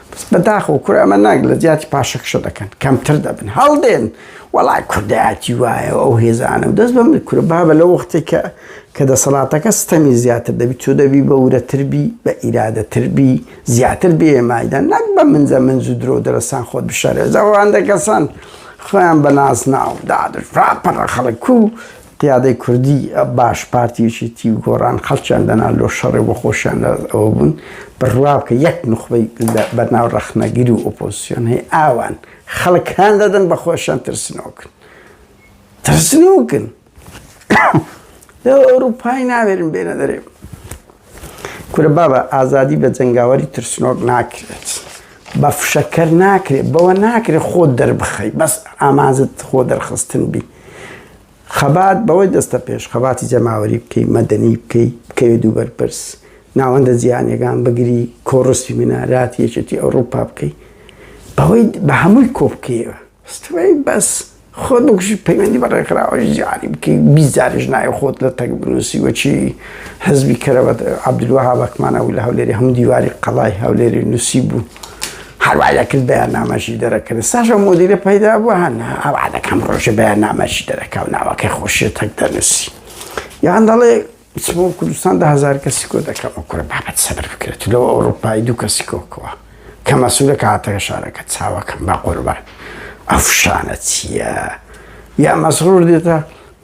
بە داخەوە کورە ئەمە ناگ لە جیاتی پاشەکشە دەکەن کەمتر دەبن هەڵدێن وەڵای کوردایەتی وایە ئەو هێزانە و دەست بەم کورە بابە لە وەختێک کە کە دەسەڵاتەکە ستەمی زیاتر دەبی تۆ دەبی بە ورەتربی بە ئیرادەتربی زیاتر بێمایدا نەک بە منزە منز و درۆ دەرەسان خۆت بشارێزەوەوان دەکەسان خۆیان بە نازناو دادر پڕە خەڵک و قیادەی کوردی باش پارتی یەکێتی و گۆڕان خەڵکیان دەنا لۆ شەڕێ بۆ خۆشیان لەدەست ئەوە بوون بڕوا بکە یەک نوخبەی لە بەناو ڕەخنەگر و ئۆپۆزسیۆن هەیە ئاوان خەڵک هان دەدەن بە خۆشیان ترسنۆکن ترسنۆکن لەو ئەوروپای ناوێرن بێنە دەرێ کورە بابە ئازادی بە جەنگاوەری ترسنۆک ناکرێت بە فشەکەر ناکرێت بەوە ناکرێت خۆ دەربخەی بەس ئامانزت خۆ دەرخستن بی خەبات بەوەی دەستە پێش خەباتی جەماوەری بکەی مەدەنی بکەی بکەوێ دوو بەرپرس ناوەندە جیانەکان بگری کۆڕستی منارات یەکێتی ئەوروپا بکەی بەوەی بە هەمووی کۆ بکەیەوە ستوی بەس خۆت بکوژی پەیوەندی بە ڕێکخراوە جاری بکەی بیست جاریش ناوی خۆت لە تەک بنووسی وەچی حزبی کەرەوە عەبدولوەهاب ئەکمان ئەو لە هەولێری هەموو دیواری قەڵای هەولێری نووسی بوو هەروای دەکرد بەیاننامەشی دەرەکرد ساشە مدیرە پەیدا بوو هەن ئەوا دەکەم ڕۆژێ بەیاننامەشی دەرەکە و ناوەکەی خۆشیە تەک دەنووسی یان دەڵێ چمە و کوردستان دە هەزار کەسی کۆ دەکەم و کوڕە بابەت سەبر بکرێت لەوە ئەوڕۆپایی دوو کەسی کۆکەوە کە مەسوولە کە هاتەکە شارەکە چاوەکەم بە قوربان ئەفشانە چییە یا مەسرور دێتە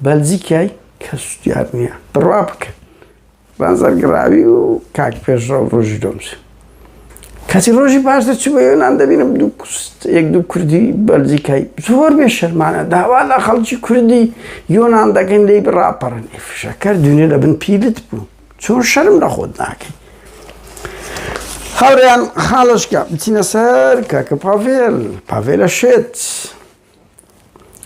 بەلجیکای کەس دیار نییە بڕوا بکە بازەرگراوی و کاک پێشڕە و ڕۆژی دۆمسن کاتی ڕۆژی پاش دەچوو بە یۆنان دەبینم یەک دوو کوردی بەلجیکای زۆر بێ شەرمانە داوا لە خەڵکی کوردی یۆنان دەگەن لی بڕاپەڕن فشەکەر دونێ لە بن پیلت بوو چۆن شەرم لە خۆت ناکەی هاوریان خاڵشکە بچینە سەر کاکە پاڤێل پاڤێلە شێت.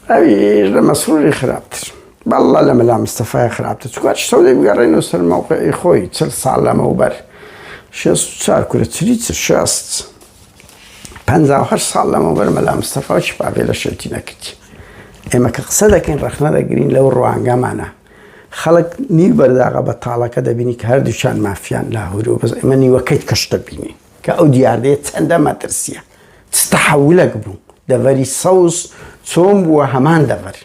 ئەویش لە مەسروری خراپتر بەڵڵا لە مەلا مستەفای خراپتر چکات شتەو لێ بگەڕێن و سەر مەوقعی خۆی چل ساڵ لەمەوبەر شێست و چار کورە چلی چ شێست پەنجا و هەشت ساڵ لەمەوبەر مەلا مستەفا و شپاڤێ لە شێتی نەکردی ئێمە کە قسە دەکەین ڕەخنە دەگرین لەو ڕوانگەمانە خەڵک نیو بەرداغە بە تاڵەکە دەبینی کە هەردووچان مافیان لاهور و بەس ئێمە نیوەکەیت کەش دەبینین کە ئەو دیاردەیە چەندە مەترسیە چ تەحەولەک بوو دەڤەری سەوز چۆن بووە هەمان دەڤەر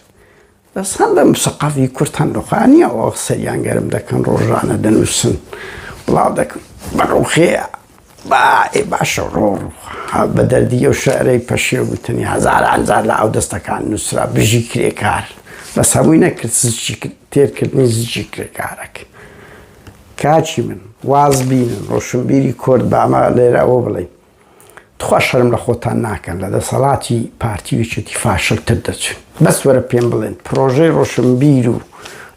بەس هەم بە مسەقەفی کورد هەم ڕوخانیە ئەو قسەیان گەرم دەکەن ڕۆژانە دەنووسن بڵاو دەکەم بە ڕوخەیە با ئێ باشە ڕۆ بە دەردی ئەو شعرەی پەشێ وتنی هەزار ئەنجار لە ئەو دەستەکان نووسرا بژی کرێکار بەس هەمووی نەکرد زچی تێرکردنی زجی کرێکارەکە کاکی من واز بینن ڕۆشنبیری کورد با ئەمە لێرە ئەوە بڵێین تخوا شەرم لە خۆتان ناکەن لە دەسەڵاتی پارتی ویچێتی فاشلتر دەچن بەس وەرە پێم بڵێن پرۆژەی ڕۆشنبیر و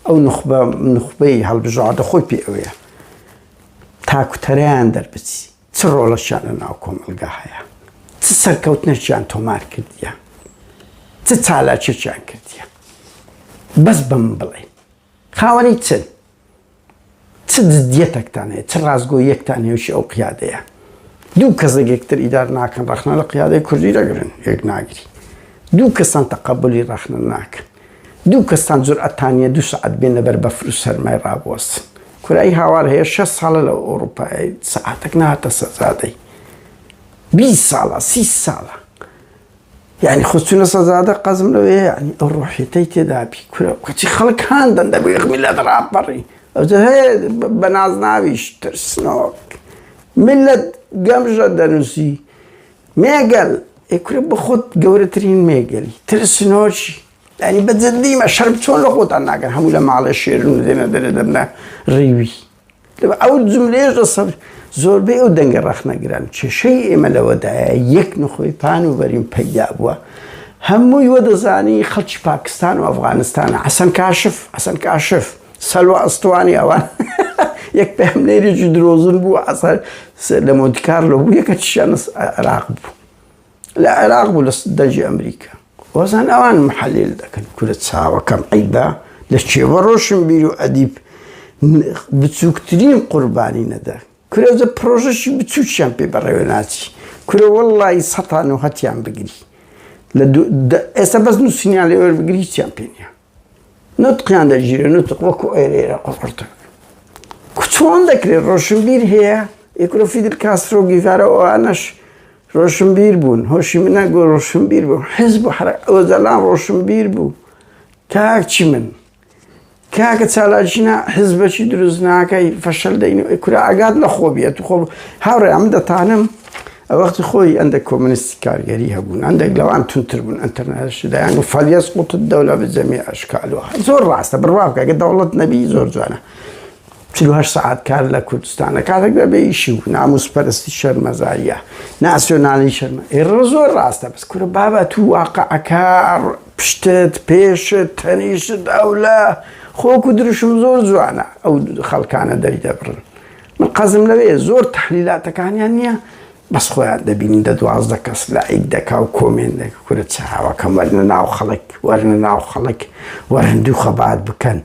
ئەو نخبە نخبەی هەڵبژاردە خۆی پێ ئەوەیە تاکوتەرەیان دەربچی چ ڕۆڵەشیان لە ناو کۆمەلگا هەیە چ سەرکەوتنەشیان تۆمار کردیان چ چالاکێکیان کردیان بەس بم بڵێ خاوەنی چن؟ چ جدیەتەکتان هەیە؟ چ ڕاستگۆییەکتان نێوشی ئەو قیادەیە؟ دوو کەس یەکتر ئیدار ناکەن ڕەخنە لە قیادەی کوردی دەگرن یەک ناگری دوو کەسان تەقەبلی ڕەخنە ناکەن دوو کەستان جورئەتانە دوو سعات بێن لەبەر بەفر و سەرمای ڕابوەستن کورایی هاوار هەیە شە ساڵە لە ئەوروپای سعاتەک ناتە سەزادەی بی ساڵە سی ساڵە یانی خستونە سەزادە قەزم لەوێ یانی ئەو ڕۆحێتەی تێدابی کورە کەچی خەڵک هاان دەندە بێ خمیلەت ڕاپەڕی ئەوجە هەیە بە نازناویش ترسنۆک ملت گەمژە دەنووسی مێگەل ئێکورە بە خۆت گەورەترین مێگەلی ترسنۆکی ینی بەجددیمە شەرم چۆن لە خۆتان ناگەن هەموو لە ماڵێ شێرن و دێنە دەرێ دەبنە ڕیوی ئەو جملەیەش لەسەر زۆربەی ئەو دەنگە ڕەخنەگران کێشەی ئێمە لەوەدایە یەک نخۆی پان و بەریم پەیدا بووە هەمووی وە دەزانی خەڵکی پاکستان و ئەفغانستانە حەسەن کاشف حەسەن کاشف سەلوە ئەستوانی ئەوان یەک پێمنێریی درۆزن بوو ئەسەر لە مۆدیکار لە بوو یەکە چیانە عراق بوو لە عێراق بوو لە دەجی ئەمریکا وەزان ئەوان محەلێل دەکەن کورە چاوەکەم عیبا لە کێوە ڕۆشن بیر و ئەدیب بچووکترین قوربانی نەدا کورەزە پرۆژەشی بچووکیان پێ بەڕێوە ناچی کورە وەڵی سەتان و هەتیان بگری لە ئێستا بەس نووسینیان لێوەر بگری هیچیان پێ نیە نوتقیان دەگیرێ نوتق وەکو ئێرێرە قوڕقڕتر چۆن دەکرێت ڕۆشنبیر هەیە یەکرۆ فیدل کاسترۆ گیڤارە ئەوانەش ڕۆشنبیر بوون هۆشی منە گۆ ڕۆشنبیر بوو حز بوو حرە ئەوەزەلان ڕۆشنبیر بوو تاچی من کاکە چالاکینا حزبەکی دروست ناکەی فەشل دەین کورا ئاگات لە خۆ بێت خۆ هاوڕێ ئەم دەتانم ئەوەختی خۆی ئەندەک کۆمۆنیستی کارگەری هەبوون، ئەندەک لەوان توندتر بوون، ئەنتەرنایشی دەیان گوت فەلیەسقوت الدولە بجەمیع ئەشکالها، زۆر ڕاستە، بڕوا بکە گەر دەوڵەت نەبی زۆر جوانە، چل و هەشت سەعات کار لە کوردستان ئەکات ئەگەر بێ ئیشی و نامووسپەرستی شەرمەزارییە، ناسیۆنالی شەرمە، ئێ ڕە زۆر ڕاستە، بەس کورە بابە توو واقعەکە، پشتت، پێشت، تەنیشت، ئەولە، خۆک و دروشم زۆر جوانە ئەو خەڵکانە دەریدەبڕن. من قەزم لەوەیە زۆر تەحلیلاتەکانیان نیە بەس خۆیان دەبینی دە دوازدە کەس لایک دەکا و کۆمێن دەکە کورە چاوەکەم وەرنە ناو خەڵک وەرنە ناو خەڵک وەرن دوو خەبات بکەن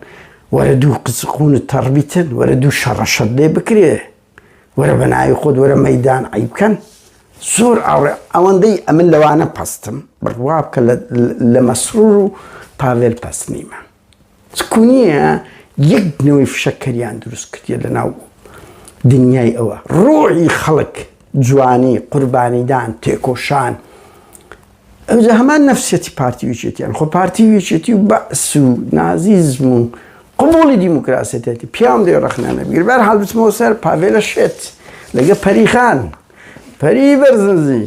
وەرە دوو قسقونت تەڕبیتن وەرە دوو شەڕەشەت لێ بکرێ وەرە بە ناوی خۆت وەرە مەدان عی بکەن زۆر ئاڕێ ئەوەندەی ئەمن لەوانە پستم بڕوا بکە لە مەسرور و پاڤێل پەسنیمە چکونیە یەک نەوەی فشەکەریان دروست کردیە لەناو دنیای ئەوە ڕۆحی خەڵک جوانی قوربانیدان تێکۆشان ئەوجا هەمان نەفسیەتی پارتی ویچێتیان خۆ پارتی ویچێتی و بەعس و نازیزم و قوبولی دیموکراسەتێتی پیاوم دێ ڕەخنانە بگیر بەر حال بچمەوە سەر پاڤێلە شێت لەگە پەریخان پەری بەرزنزی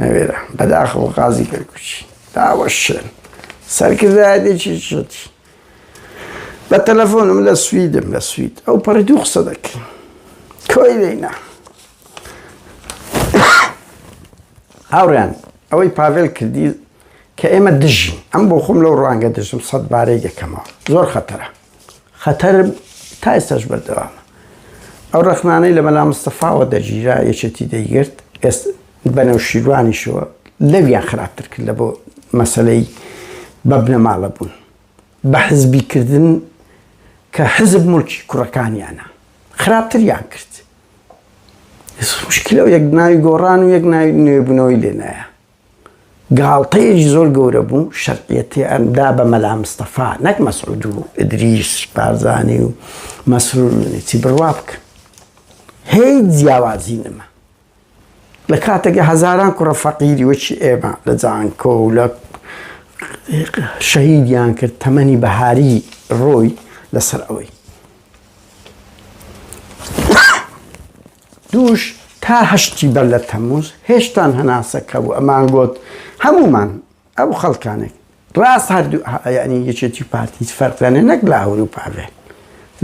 نەوێرا بەداخەوە قازی کەرکوچی داوە شوێن سەرکردایەتێکی شێتی بە تەلەفۆنم لە سویدم لە سوید ئەو پەڕی دوو قسە دەکەین کۆی لێنا هاوڕیان ئەوەی پاڤێل کردی کە ئێمە دژین ئەم بۆ خۆم لەو ڕوانگە دژم سەد بارەی دەکەمەوە زۆر خەتەرە خەتەر تا ئێستاش بەردەوامە. ئەو ڕەخنانەی لە مەلا مستەفاوە دەگیرا یەکێتی دەیگرت، ئێست بە نەوشیروانیشەوە لەویان خراپتر کرد لە بۆ مەسەلەی بە بنەماڵە بوون. بە حزبی کردن کە حزب موڵکی کوڕەکانیانە. خراپتریان کرد. ئێس مشکلە و یەک ناوی گۆڕان و یەک ناوی نوێبوونەوەی لێ نایە. گاڵتەیەکی زۆر گەورە بوو شەرعیەتیان دا بە مەلا مستەفا نەک مەسعود و ئیدریس بارزانی و مەسرور چی بڕوا بکە هیچ جیاوازی نەما لە کاتێکە هەزاران کوڕە فەقیری وەکی ئێمە لە جانکۆ و لە شەهیدیان کرد تەمەنی بەهاری ڕۆی لەسەر ئەوەی دووش تا هەشتی بەر لە تەموز هێشتان هەناسە کە بوو ئەمان گۆت هەموومان ئەو خەڵکانێک ڕاست هەردوو یعنی یەکێتی پارتی فەرقیانێ نەک لاهور و پاڤێ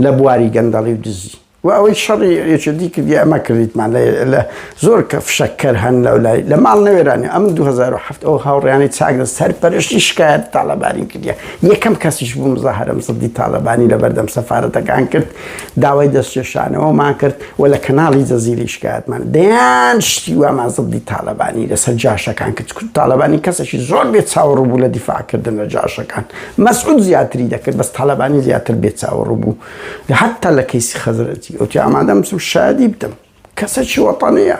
لە بواری گەندەڵی و دزی و ئەوەی شەڕی یەکێتی کردی ئەمە کردیتمان لە زۆر کە فشەکەر هەن لەو لای لە ماڵ نەوێرانی ئەم 2007 ئەو هاوڕیانی چاگرە سەر پەرشتی شکایەت تاالبانی کردە یەکەم کەسیش بووم زەهرم سەدی تاالبانی لە بەردەم سەفاەتەکان کرد داوای دەستکێشانەوەمان کرد و لە کەناڵی جەزیرەی شکایەتمان دەیان شتی وامان زبدی تاالەبانی لەسەر جاشەکان کرد کورد تاالەبانی کەسێکی زۆر بێ چاوەڕوو بوو لە دیفاعکردن لە جاشەکان مەسعود زیاتری دەکرد بەس تاالەبانی زیاتر بێ چاوەڕوو بوو لە حتا لە کەیسی خەزرەتی ئەوتی ئامادەم بچم شادی بدەم کەسێکی وەتەنەیە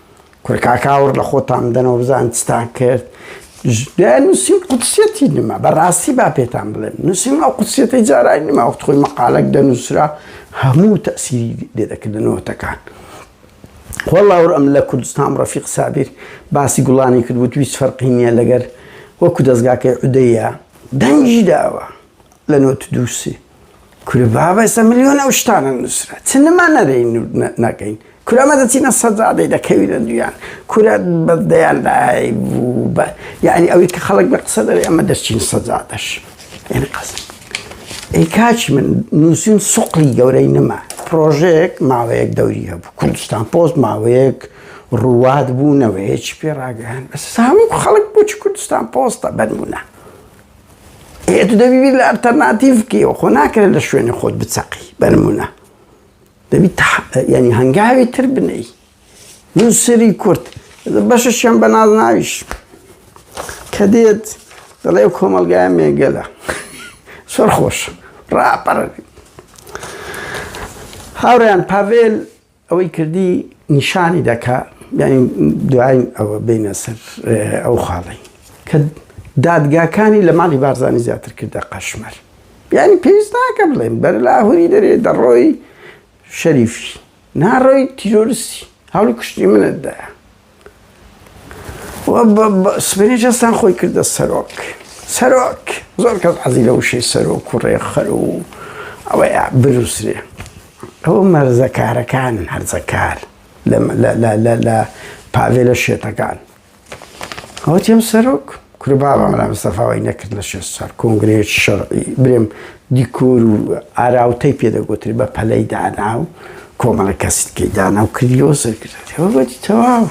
کورە کاکە ئاوڕ لە خۆتان بدەنەوە بزان چتان کرد دایان نووسین قودسیەتی نما بەڕاستی با پێتان بڵێن نووسین ئەو قودسیەتی جارای نما وەخت خۆی مەقالەک دەنووسرا هەموو تەسیری لێدەکردنەوەتەکان وەڵاور ئەم لە کوردستان ڕەفیق سابیر باسی گوڵانی کرد وت ویست فەرقی نییە لەگەر وەکو دەستگاکەی عودەیە دەنگی داوە لە نۆت دووسی کورە بابە سە ملیۆن ئەو شتانە نووسرا چ نما نەرین نەکەین کورە مە دەچینە سەدادەی دەکەوینە دویان کورە بە دەیان لای بوو بە یعنی ئەوەی کە خەڵک لە قسە دەێ ئەمە دەچین سەدادەش یعنی قەز ئەی کاچ من نووسین سوقلی گەورەی نما پرۆژێک ماوەیەک دەوری هەبوو کوردستان پۆست ماوەیەک ڕوات بوونەوەیەکی پێ ڕاگەیان بەس سامی خەڵک بۆچ کوردستان پۆستە بەرمونە ئێ تو دەبی بیر لە ئەلتەرناتیڤ بکەیەوە، خۆ ناکرێت لە شوێنی خۆت بچەقی بە نموونە. دەبی یانی هەنگاوی تر بنێی. نووسەری کورد بەشەشیان بە نازناویش کە دێت دەڵێ کۆمەلگای مێگەلە سەر خۆش ڕاپەڕێت. هاوڕێیان پاڤێل ئەوەی کردی نیشانی دەکا یعنی دوای ئەوە بینە سەر ئەو خاڵی کە دادگاکانی لە ماڵی بارزانانی زیاتر کردە قەشمەر یعنی پێویست ناکە بڵێن بەر لاهوری دەرێ دەڕۆی شەریفی ناڕۆی تیرۆرسی هەڵی کوشتی منتدا سبینی جەستان خۆی کردە سەرۆک سەرۆک زۆر کەس عزی لە وشەی سەرۆک و ڕێخەر و ئەوەی بنووسێ ئەوە مەرزەکارەکان هەرزەکار لە پاوێلە شێتەکان ئەوە تێم سەرۆک کورە بابا مەلا مستەفا وای نەکرد لە شێست ساڵ کۆنگرەیەکی شەرعی برێم دیکۆر و ئاراوتەی پێ دەگوتری بە پەلەی دانا و کۆمەڵە کەسی کەی دانا و کردی و سەرکردێ وەگوتی تەواو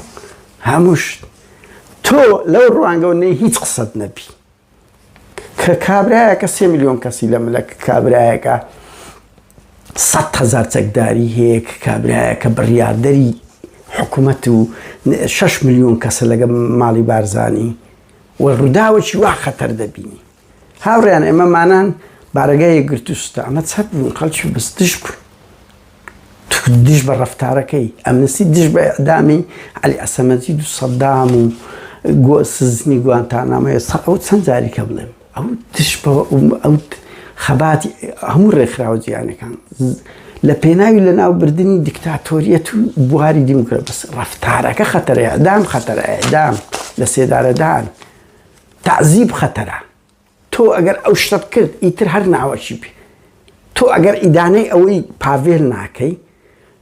هەمووشت تۆ لەو ڕوانگەەوە نەی هیچ قسەت نەبی کە کابراایەکە سێ میلیۆن کەسی لە ملە کابراایەکە سەد هەزار چەکداری هەیە کە کابرایەکە بڕیاردەری حکومەت و شەش ملیۆن کەسە لەگە ماڵی بارزانی و ڕووداوەکی وا خەتەر دەبینی هاوڕیان ئێمەمانان بارەگای گرتوستە ئەمە چەپ بوون خەڵکی بستش بوو دژ بە ڕفتارەکەی ئەمنسی دژ بە ئەدامی علی ئەسەمەزی دو سەدام و گۆ سزنی گوانتانامەیە سە ئەو چەند جاریکە بڵێم ئەو دژ بە ئەو خەباتی هەموو ڕێکخراوە جیهانەکان لە پێناوی لەناوبردنی دیکتاتۆریەت و بواری دیموکرات بەس ڕفتارەکە خەتەرەیە دام خەتەرەیە دام لە سێدارەدان تعزیب خەتەرە تۆ ئەگەر ئەو شتە بکرد ئیتر هەر ناوەکی بێ تۆ ئەگەر ئیدانەی ئەوەی پاڤێل ناکەی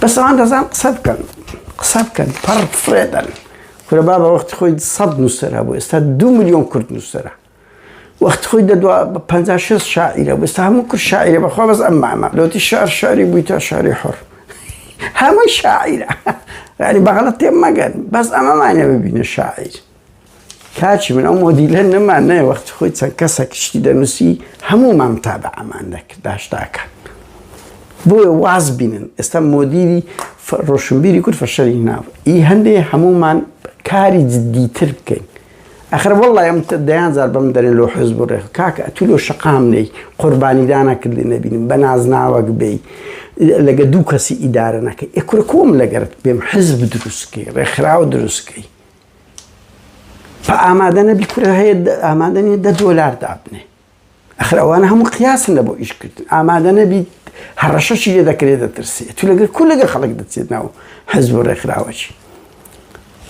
بەس ئەوان دەزان قسە بکەن قسە بکەن پڕ فرێدەن کورە بابە وەختی خۆی سەد نووسەر هەبوو ئێستا دو میلیۆن کورد نووسەرە وەخت خۆی دەدوا بە 56 شاعیرە بستا هەموو کورد شاعیرە بەخوا بەس ئەم مامە لەوتی شار شاری بووی تا شاری حڕ هەمووی شاعیرە ینی بەغڵەت تێ مەگەن بەس ئەمەمانە ببینە شاعیر کاکی من ئەو مۆدیلە نەمان نایە وەخت خۆی چەند کەسێک شتی دەنووسی هەموومان تا بە ئەمان دەکرد داشتاکە بۆیە واز بینن ئێستا مۆدیری ڕۆشنبیری کورد فەشەری ناو ئی هەندێ هەموومان کاری جددیتر بکەین ئەخر وڵی ئەم دەیان زار بەم دەرێن لۆ حز بڕێ کاکە ئەتو لۆ شقام نەی قوربانیدانە کردی نەبینم بە نازناوەک بی لەگە دوو کەسی ئیدارە نەکەی ئەکورە کۆم لەگەرت بێم حزب دروستکەی ڕێکخراوە دروستکەی ئامادە نەبی کورە هەیە ئامادە نیە دە دۆلار دابنێ ئەخر ئەوانە هەموو قیاسن لە بۆ ئیشکردن ئامادە نەبیت هەڕەشەشی لێ دەکرێت دەترسێت تو لەگەر کو لەگە خەڵک دەچێت ناو حەز بۆ ڕێکخراوەچی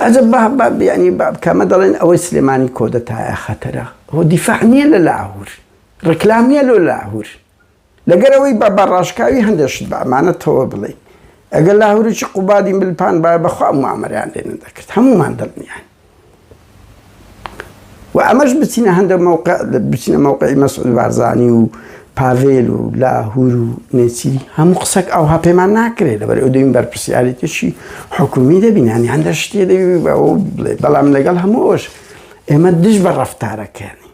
ئەجە بابیانی بابکەمە دەڵێن ئەوەی سلێمانی کۆدەتایە خەتەرە هۆ دیفاع نییە لە لاهور ڕکلام نیە لۆ لاهور لەگەر ئەوەی با بە ڕاشکاوی هەندێ شت بە ئەمانەتەوە بڵێین، ئەگەر لاهوریی قوبادی مل پانبایە بە خوا موامەرەیان لێ نەدەکرد، هەموومان دڵنیاین. و ئەمەش بچینە هەندێ مەوقع، بچینە مەوقعی مەسعود بارزانی و پاڤێل و لاهور و نێچیری، هەموو قسەک ئەوها پێمان ناکرێ، لەبەر ئەوەی دەبین بەرپرسیاریتیی حکوومی دەبین، یانی هەندێ شتێ دەبی بەوە بڵێی، بەڵام لەگەڵ هەموو ئەوەش ئێمە دژ بە ڕەفتارەکەیانی.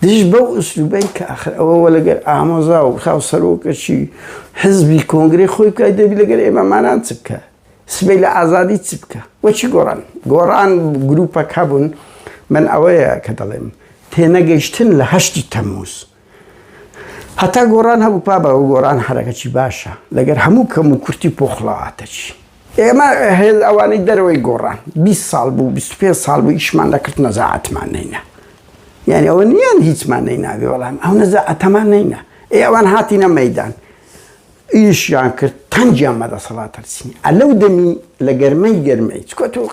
دژ بەو ئسلوبەی کە ئاخر ئەوە وە لەگەر ئامۆزا و خاو سەرۆکەچی حزبی کۆنگرەی خۆی بکای دەبی لەگەر ئێمە مانان چ بکە سبەی لە ئازادی چ بکە وە چی گۆڕان گۆڕان گروپە کە بوون من ئەوەیە کە دەڵێم تێنەگەیشتن لە هەشتی تەموز هەتا گۆڕان هەبوو پابەوە گۆڕان حرەکەچی باشە لەگەر هەموو کەم و کورتی پۆخڵەواتەچی. ئێمە هێل ئەوانەی دەرەوەی گۆڕان بیست ساڵ بوو بیست و پێنج ساڵ بوو ئیشمان دەکرد نەزاعەتمان نەینا یانی ئەوە نیان هیچمان نەیناوێ بەڵام ئەو نەزاعەتەمان نەینا ئێ ئەوان هاتینە مەیدان ئیشیان کرد تەنگیان بە دەسەڵات هەرسینی ئە لەو دەمی لە گەرمەی گەرمەی چکۆت و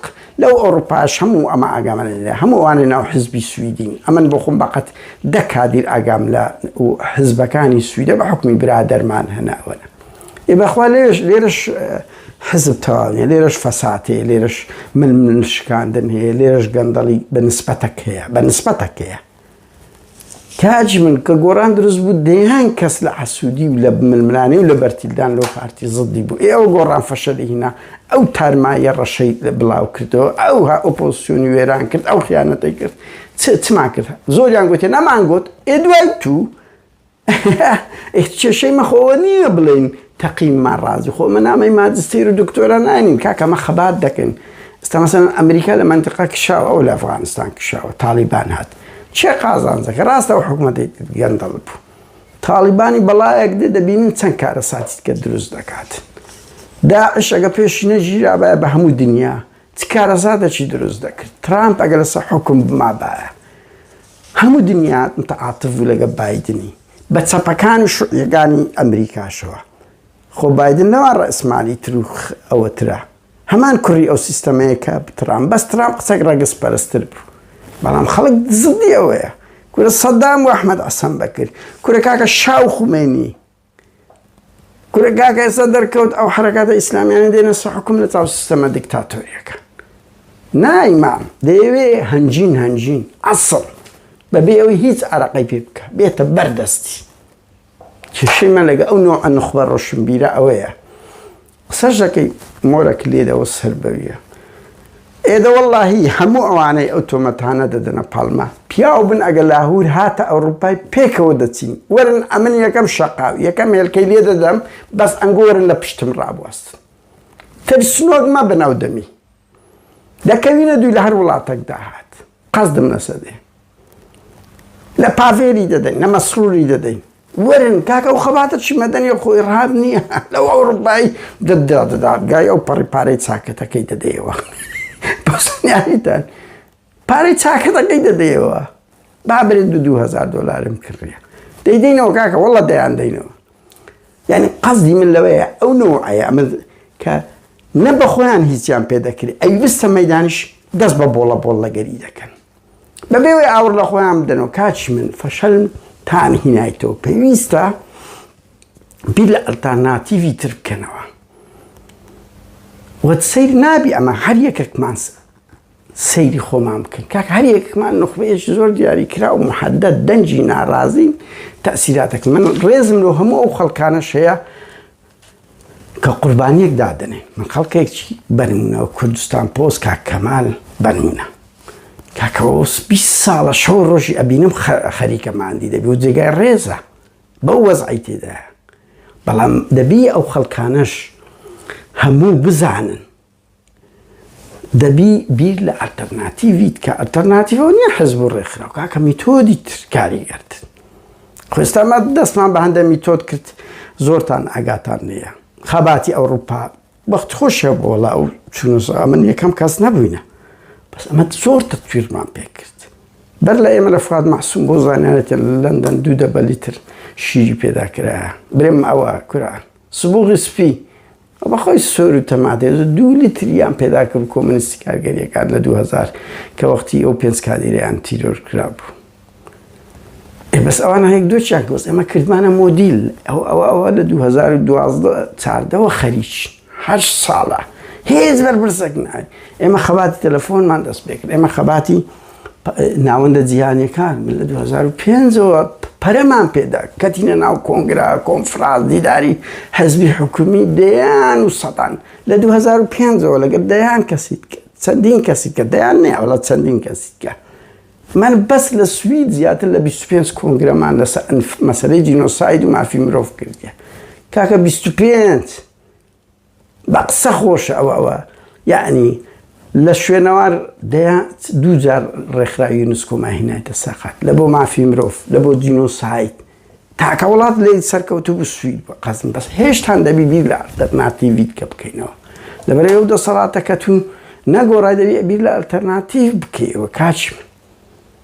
لەو ئەوروپاش هەموو ئەمە ئاگامە لە هەموو ئەوانە ناو حزبی سویدین ئەمن بۆ خۆم بەقەت دە کادیر ئاگام لە حزبەکانی سویدە بە حکومی برادەرمان هەناوەە ئێ بەخوا لێرەش لێرەش حزب تەواو نیە لێرەش فەساد هەیە لێرەش ململ شکاندن هەیە لێرەش گەندەڵی بە نسبەتەک هەیە بە نسبەتەک هەیە تاج من کە گۆران دروست بوو دەیان کەس لە حەسوودی و لە ململانێ و لە بەرتیلدان لەو پارتی زدی بوو ئێوە گۆڕان فەشەلی هینا ئەو تارمایە ڕەشەی لە بڵاو کردەوە ئەو ها ئۆپۆسیۆنی وێران کرد ئەو خیانەتەی کرد چمان کرد زۆریان گوتێ نەمان گوت ئێ دوای تو ئێ کێشەی مە خۆوە نیە بڵێین تەقیم ما ڕازی خۆ مە نامەی ماجستیر و دکتۆرا ناینین کاکە مە خەبات دەکەین ئێستا مەسەلەن ئەمریکا لە مەنتقا کشاوە ئەو لە ئەفغانستان کشاوە تاڵیبان هات چێ قازانجەکە ڕاستە و حکوومەتی گەندەڵ بوو تاڵیبانی بەڵایەک دێ دەبینین چەند کارە ساتیت کە دروست دەکات داعش ئەگە پێشی نەژیرابایە بە هەموو دنیا چ کارەزاتەکی دروست دەکرد ترامپ ئەگە لەسە حکم بمابایە هەموو دنیا متعاتف بوو لەگەڵ بایدنی بە چەپەکان و شوعیەکانی ئەمریکاشەوە خۆ بایدن لەوان ڕەئسمالی تر و ئەوەترە هەمان کوڕی ئەو سیستەمەیە کە ترام بەس ترام قسەک ڕەگز پەرستر بوو بەڵام خەڵک زدی ئەوەیە کورە سەدام و ئەحمەد عەسەن بەکر کورە کاکە شاو خومەینی کورە کاکە ئێستا دەرکەوت ئەو حرەکاتە ئیسلامیانە دێنە سە حکوم لە چاو سیستەمە دیکتاتۆریەکە نایمام دەیەوێ هەنجین هەنجین ئەسڵ بەبێ ئەوی هیچ عراقی پێ بکە بێتە بەردەستی کێشەی من لەگە ئەو نوع نخبە ڕۆشنبیرە ئەوەیە قسەش دەکەی مۆرە کلێد ئەوە سەر بەویە ئێ دە وەڵاهی هەموو ئەوانەی ئەو تۆمەتانە دەدەنە پاڵما پیاو بن ئەگە لاهور هاتە ئەوڕوپای پێکەوە دەچین وەرن ئەمن یەکەم شەقاو یەکەم هێلکەی لێ دەدەم بەس ئەنگۆرن لە پشتم ڕابواستن ترسنۆک مەبن ئەو دەمی دەکەوینە دووی لەهەر وڵاتەک داهات قەسدم لەسە دێ لە پاڤێری دەدەین لە مەسروری دەدەین وەرن کاکە ئەو خەباتە چی مەدەنی و خۆی ڕاب نییە لەو ئەوروپایی دەدا دەدادگای ئەو پەڕی پارەی چاکەتەکەی دەدەیەوە بەسنیاریتان پارەی چاکەتەکەی دەدەیەوە با برێت دو دوو هەزار دۆلارم کڕیە دەیدەینەوە کاکە وەڵە دەیان دەینەوە یعنی قەزدی من لەوەیە ئەو نەوەیە ئەمە کە نە بە خۆیان هیچیان پێ دەکرێت ئەی بستە مەدانش دەست بە بۆڵە بۆڵ لەگەری دەکەن بەبێەوەی ئاور لە خۆیان بدەنەوە کاچی من فەشەل تان هینایتەوە پێویستە بیر لە ئەلتاناتیڤی تر بکەنەوە وە سیر نابی ئەمە هەر یەکێکمانسە سەیری خۆمان بکەن کاکە هەر یەکمان نوخبەیەکی زۆر دیاری کرا و محەدەد دەنگی ناڕازین تەسیراتەکە من ڕێزم لۆ هەموو ئەو خەڵکانە شەیە کە قوربانیەک دادنێ من خەڵکێکی بەرمونەوە کوردستان پۆز کا کەمال بەرمونە کاکەوەس 20 ساڵە شەو ڕۆژی ئەبینم خەریکەماندی دەبی و جێگای ڕێزە بەو وەزعی تێدا بەڵام دەبی ئەو خەڵکانەش هەموو بزانن دەبی بیر لە ئەلتەرناتیڤیت کە ئەلتەرناتیڤەوە نیە حزب و ڕێکخراو کاکە میتۆدی تر کاریگەرت خۆ ئێستا ما دەستمان بە هەندە میتۆد کرد زۆرتان ئاگاتان نیە خەباتی ئەوروپا بەخت خۆشە بۆ وڵا و چونوزا من یەکەم کەس نەبووینە بەس ئەمە زۆر تەتویرمان پێ کرد بەر لە ئێمە لە فات مەحسوم بۆ زانانێتە لە لەندەن دوو دەبەلی تر شیری پێدا کرایە برێم ئەوە کورە سبوغی سپی بە خۆی سۆر و تەماتێز و دوو لیتریان پێدا کرد کۆمۆنیستی کارگەریەکان لە دوو هەزار کە وەختی ئەو پێنج کادیرەیان تیرۆر کرابوو ئێ بەس ئەوان هەیەک دۆچیان کە بەس ئێمە کردمانە مۆدیل ئەو ئەو ئەوە لە 2012 چاردەوە خەریک هەر ساڵە هێز بەرپرسەک نای ئێمە خەباتی تەلەفۆنمان دەست پێ کرد ئێمە خەباتی ناوەندە جیهانیەکان لە 2005ەوە پەرەمان پێدا کەتینە ناو کۆنگرا کۆنفراز دیداری حەزبی حکومی دەیان و سەدان لە 2005ەوە لەگەر دەیان کەسیت چەندین کەسی کە دەیان نێوەڵە چەندین کەسیکە من بەس لە سوید زیاتر لە 25 کۆنگرەمان لەس مەسلەی جینۆساید و مافی مرۆڤ کردە کاکە 25 بە قسە خۆشە ئەوە ئەوە یەعنی لە شوێنەوار دەیا دوو جار ڕێکخراوی یونسکۆما هینایتە سەقەت لە بۆ مافی مرۆڤ لە بۆ جینۆسایت تاکە وڵات لێ سەرکەوتو بسوویت بە قەزم بەس هێشتان دەبی بیر لە ئەلتەرناتیڤیت کە بکەینەوە لەبەر ئەو دەسەڵاتەکەتون نەگۆڕای دەبی بیر لە ئەلتەرناتیڤ بکەیەوە کاچی من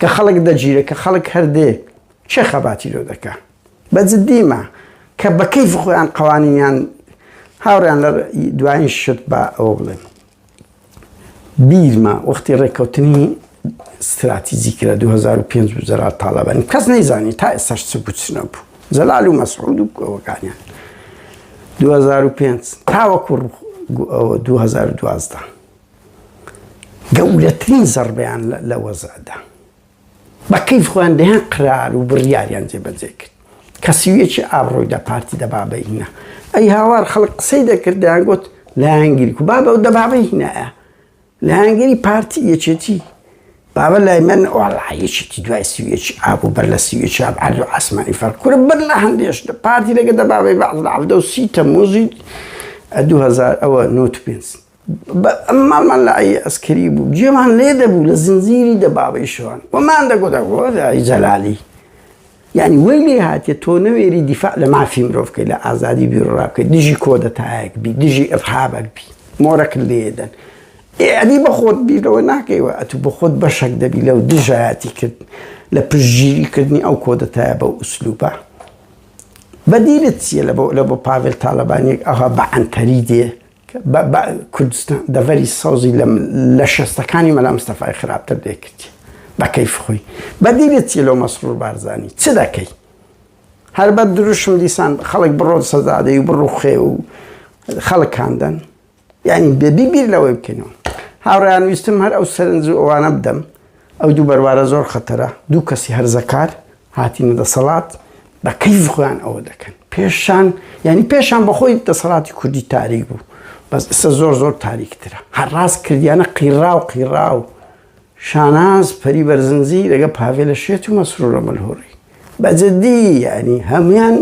کە خەڵک دەگیرێ کە خەڵک هەر دێ کێ خەباتی لۆ دەکا بە جدیمە کە بە کەیف خۆیان قەوانینیان هاوڕیان لە دوایین شت بە ئەوە بڵێن بیرمە وەختی ڕێککەوتنی ستراتیزی کرا 2005 بزرا تاالبانی کەس نەیزانی تا ئێسش چ بچنە بوو زەلال و مەسعود و ئەوەکانیان 2005 تاوەکو 2012 گەورەترین زەڕبەیان لە وەزعدا بە کەیف خۆیان دەیان قرار و بڕیاریان جێبەجێ کرد کە سویەکی ئابڕۆی دە پارتی دەبابەی هینا ئەی هاوار خەڵک قسەی دەکرد دەیان گوت لایەنگیری و بابە و دەبابەی هینایە لایەنگیری پارتی یەکێتی بابە لای من ئۆڕایەکێتی دوای سویەکی ئاب و بەر لە سویەکی ئاب عەرز و ئاسمانی فەرق کورە بەر لە هەندێش لە پارتی لەگە دەبابەی بەعز لە عەفدە و سی تەموزی 2000 ئەوە نۆت پێنج ماڵمان لە عەی عەسکەری بوو، گوێمان لێ دەبوو لە زنجیری دەبابەی شەوان، وەمان دەگوت ئەی جەلالی یانی وەی لێ هاتیە تۆ نەوێری دیفاع لە مافی مرۆڤ بکەی لە ئازادی بیروڕا بکەی دژی کۆدەتایەک بی دژی ئیڕهابەک بی مۆرەکت لێ دەن ئەدی بە خۆت بیر لەوە ناکەیوە ئەتوو بە خۆت بەشەک دەبی لەو دژایەتی کرد لە پشتگیری کردنی ئەو کۆدەتایە بەو ئوسلوبە بەدیلت چییە لە بۆ لە بۆ پاڤێل تاڵەبانیەک ئەها بە عەنتەری دێ بە کوردستان دەڤەری سەوزی لە شەستەکانی مەلا مستەفای خراپتر دەیکردی بە کەیف خۆی بە دیلت چی لەو مەسرور بارزانی چ دەکەی هەر بە دروشم دیسان خەڵک بڕۆن سەزادەی و بڕوخێ و خەڵک کاندن یعنی بێبی بیر لەوەی بکەینەوە هاوڕیان ویستم هەر ئەو سەرنج و ئەوانە بدەم ئەو دوو بەروارە زۆر خەتەرە، دوو کەسی هەرزەکار هاتینە دەسەڵات بە کەیفی خۆیان ئەوە دەکەن، پێشان یانی پێشان بە خۆی دەسەڵاتی کوردی تاریک بوو، بەس ئیستا زۆر زۆر تاریکترە، هەر ڕاست کردیانە قیڕاو قیڕاو، شاناز پەری بەرزنجی لەگەڵ پاڤێلە شێت و مەسرورە ملهوڕی، بە جدی یانی هەموویان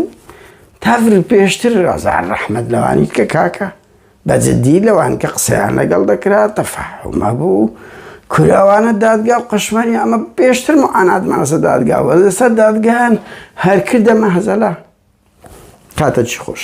تەڤ پێشتر هەزار ڕەحمەت لەوانیت کە کاکە. بە جدی لەوان کە قسەیان لەگەڵ دەکرا تەفەحوم هەبوو کورە ئەوانە دادگا و قەشمەری ئەمە پێشتر معاناتمان لەسەر دادگا و لەسەر دادگایان هەر کردە مەهەزەلە کاتەکی خۆش.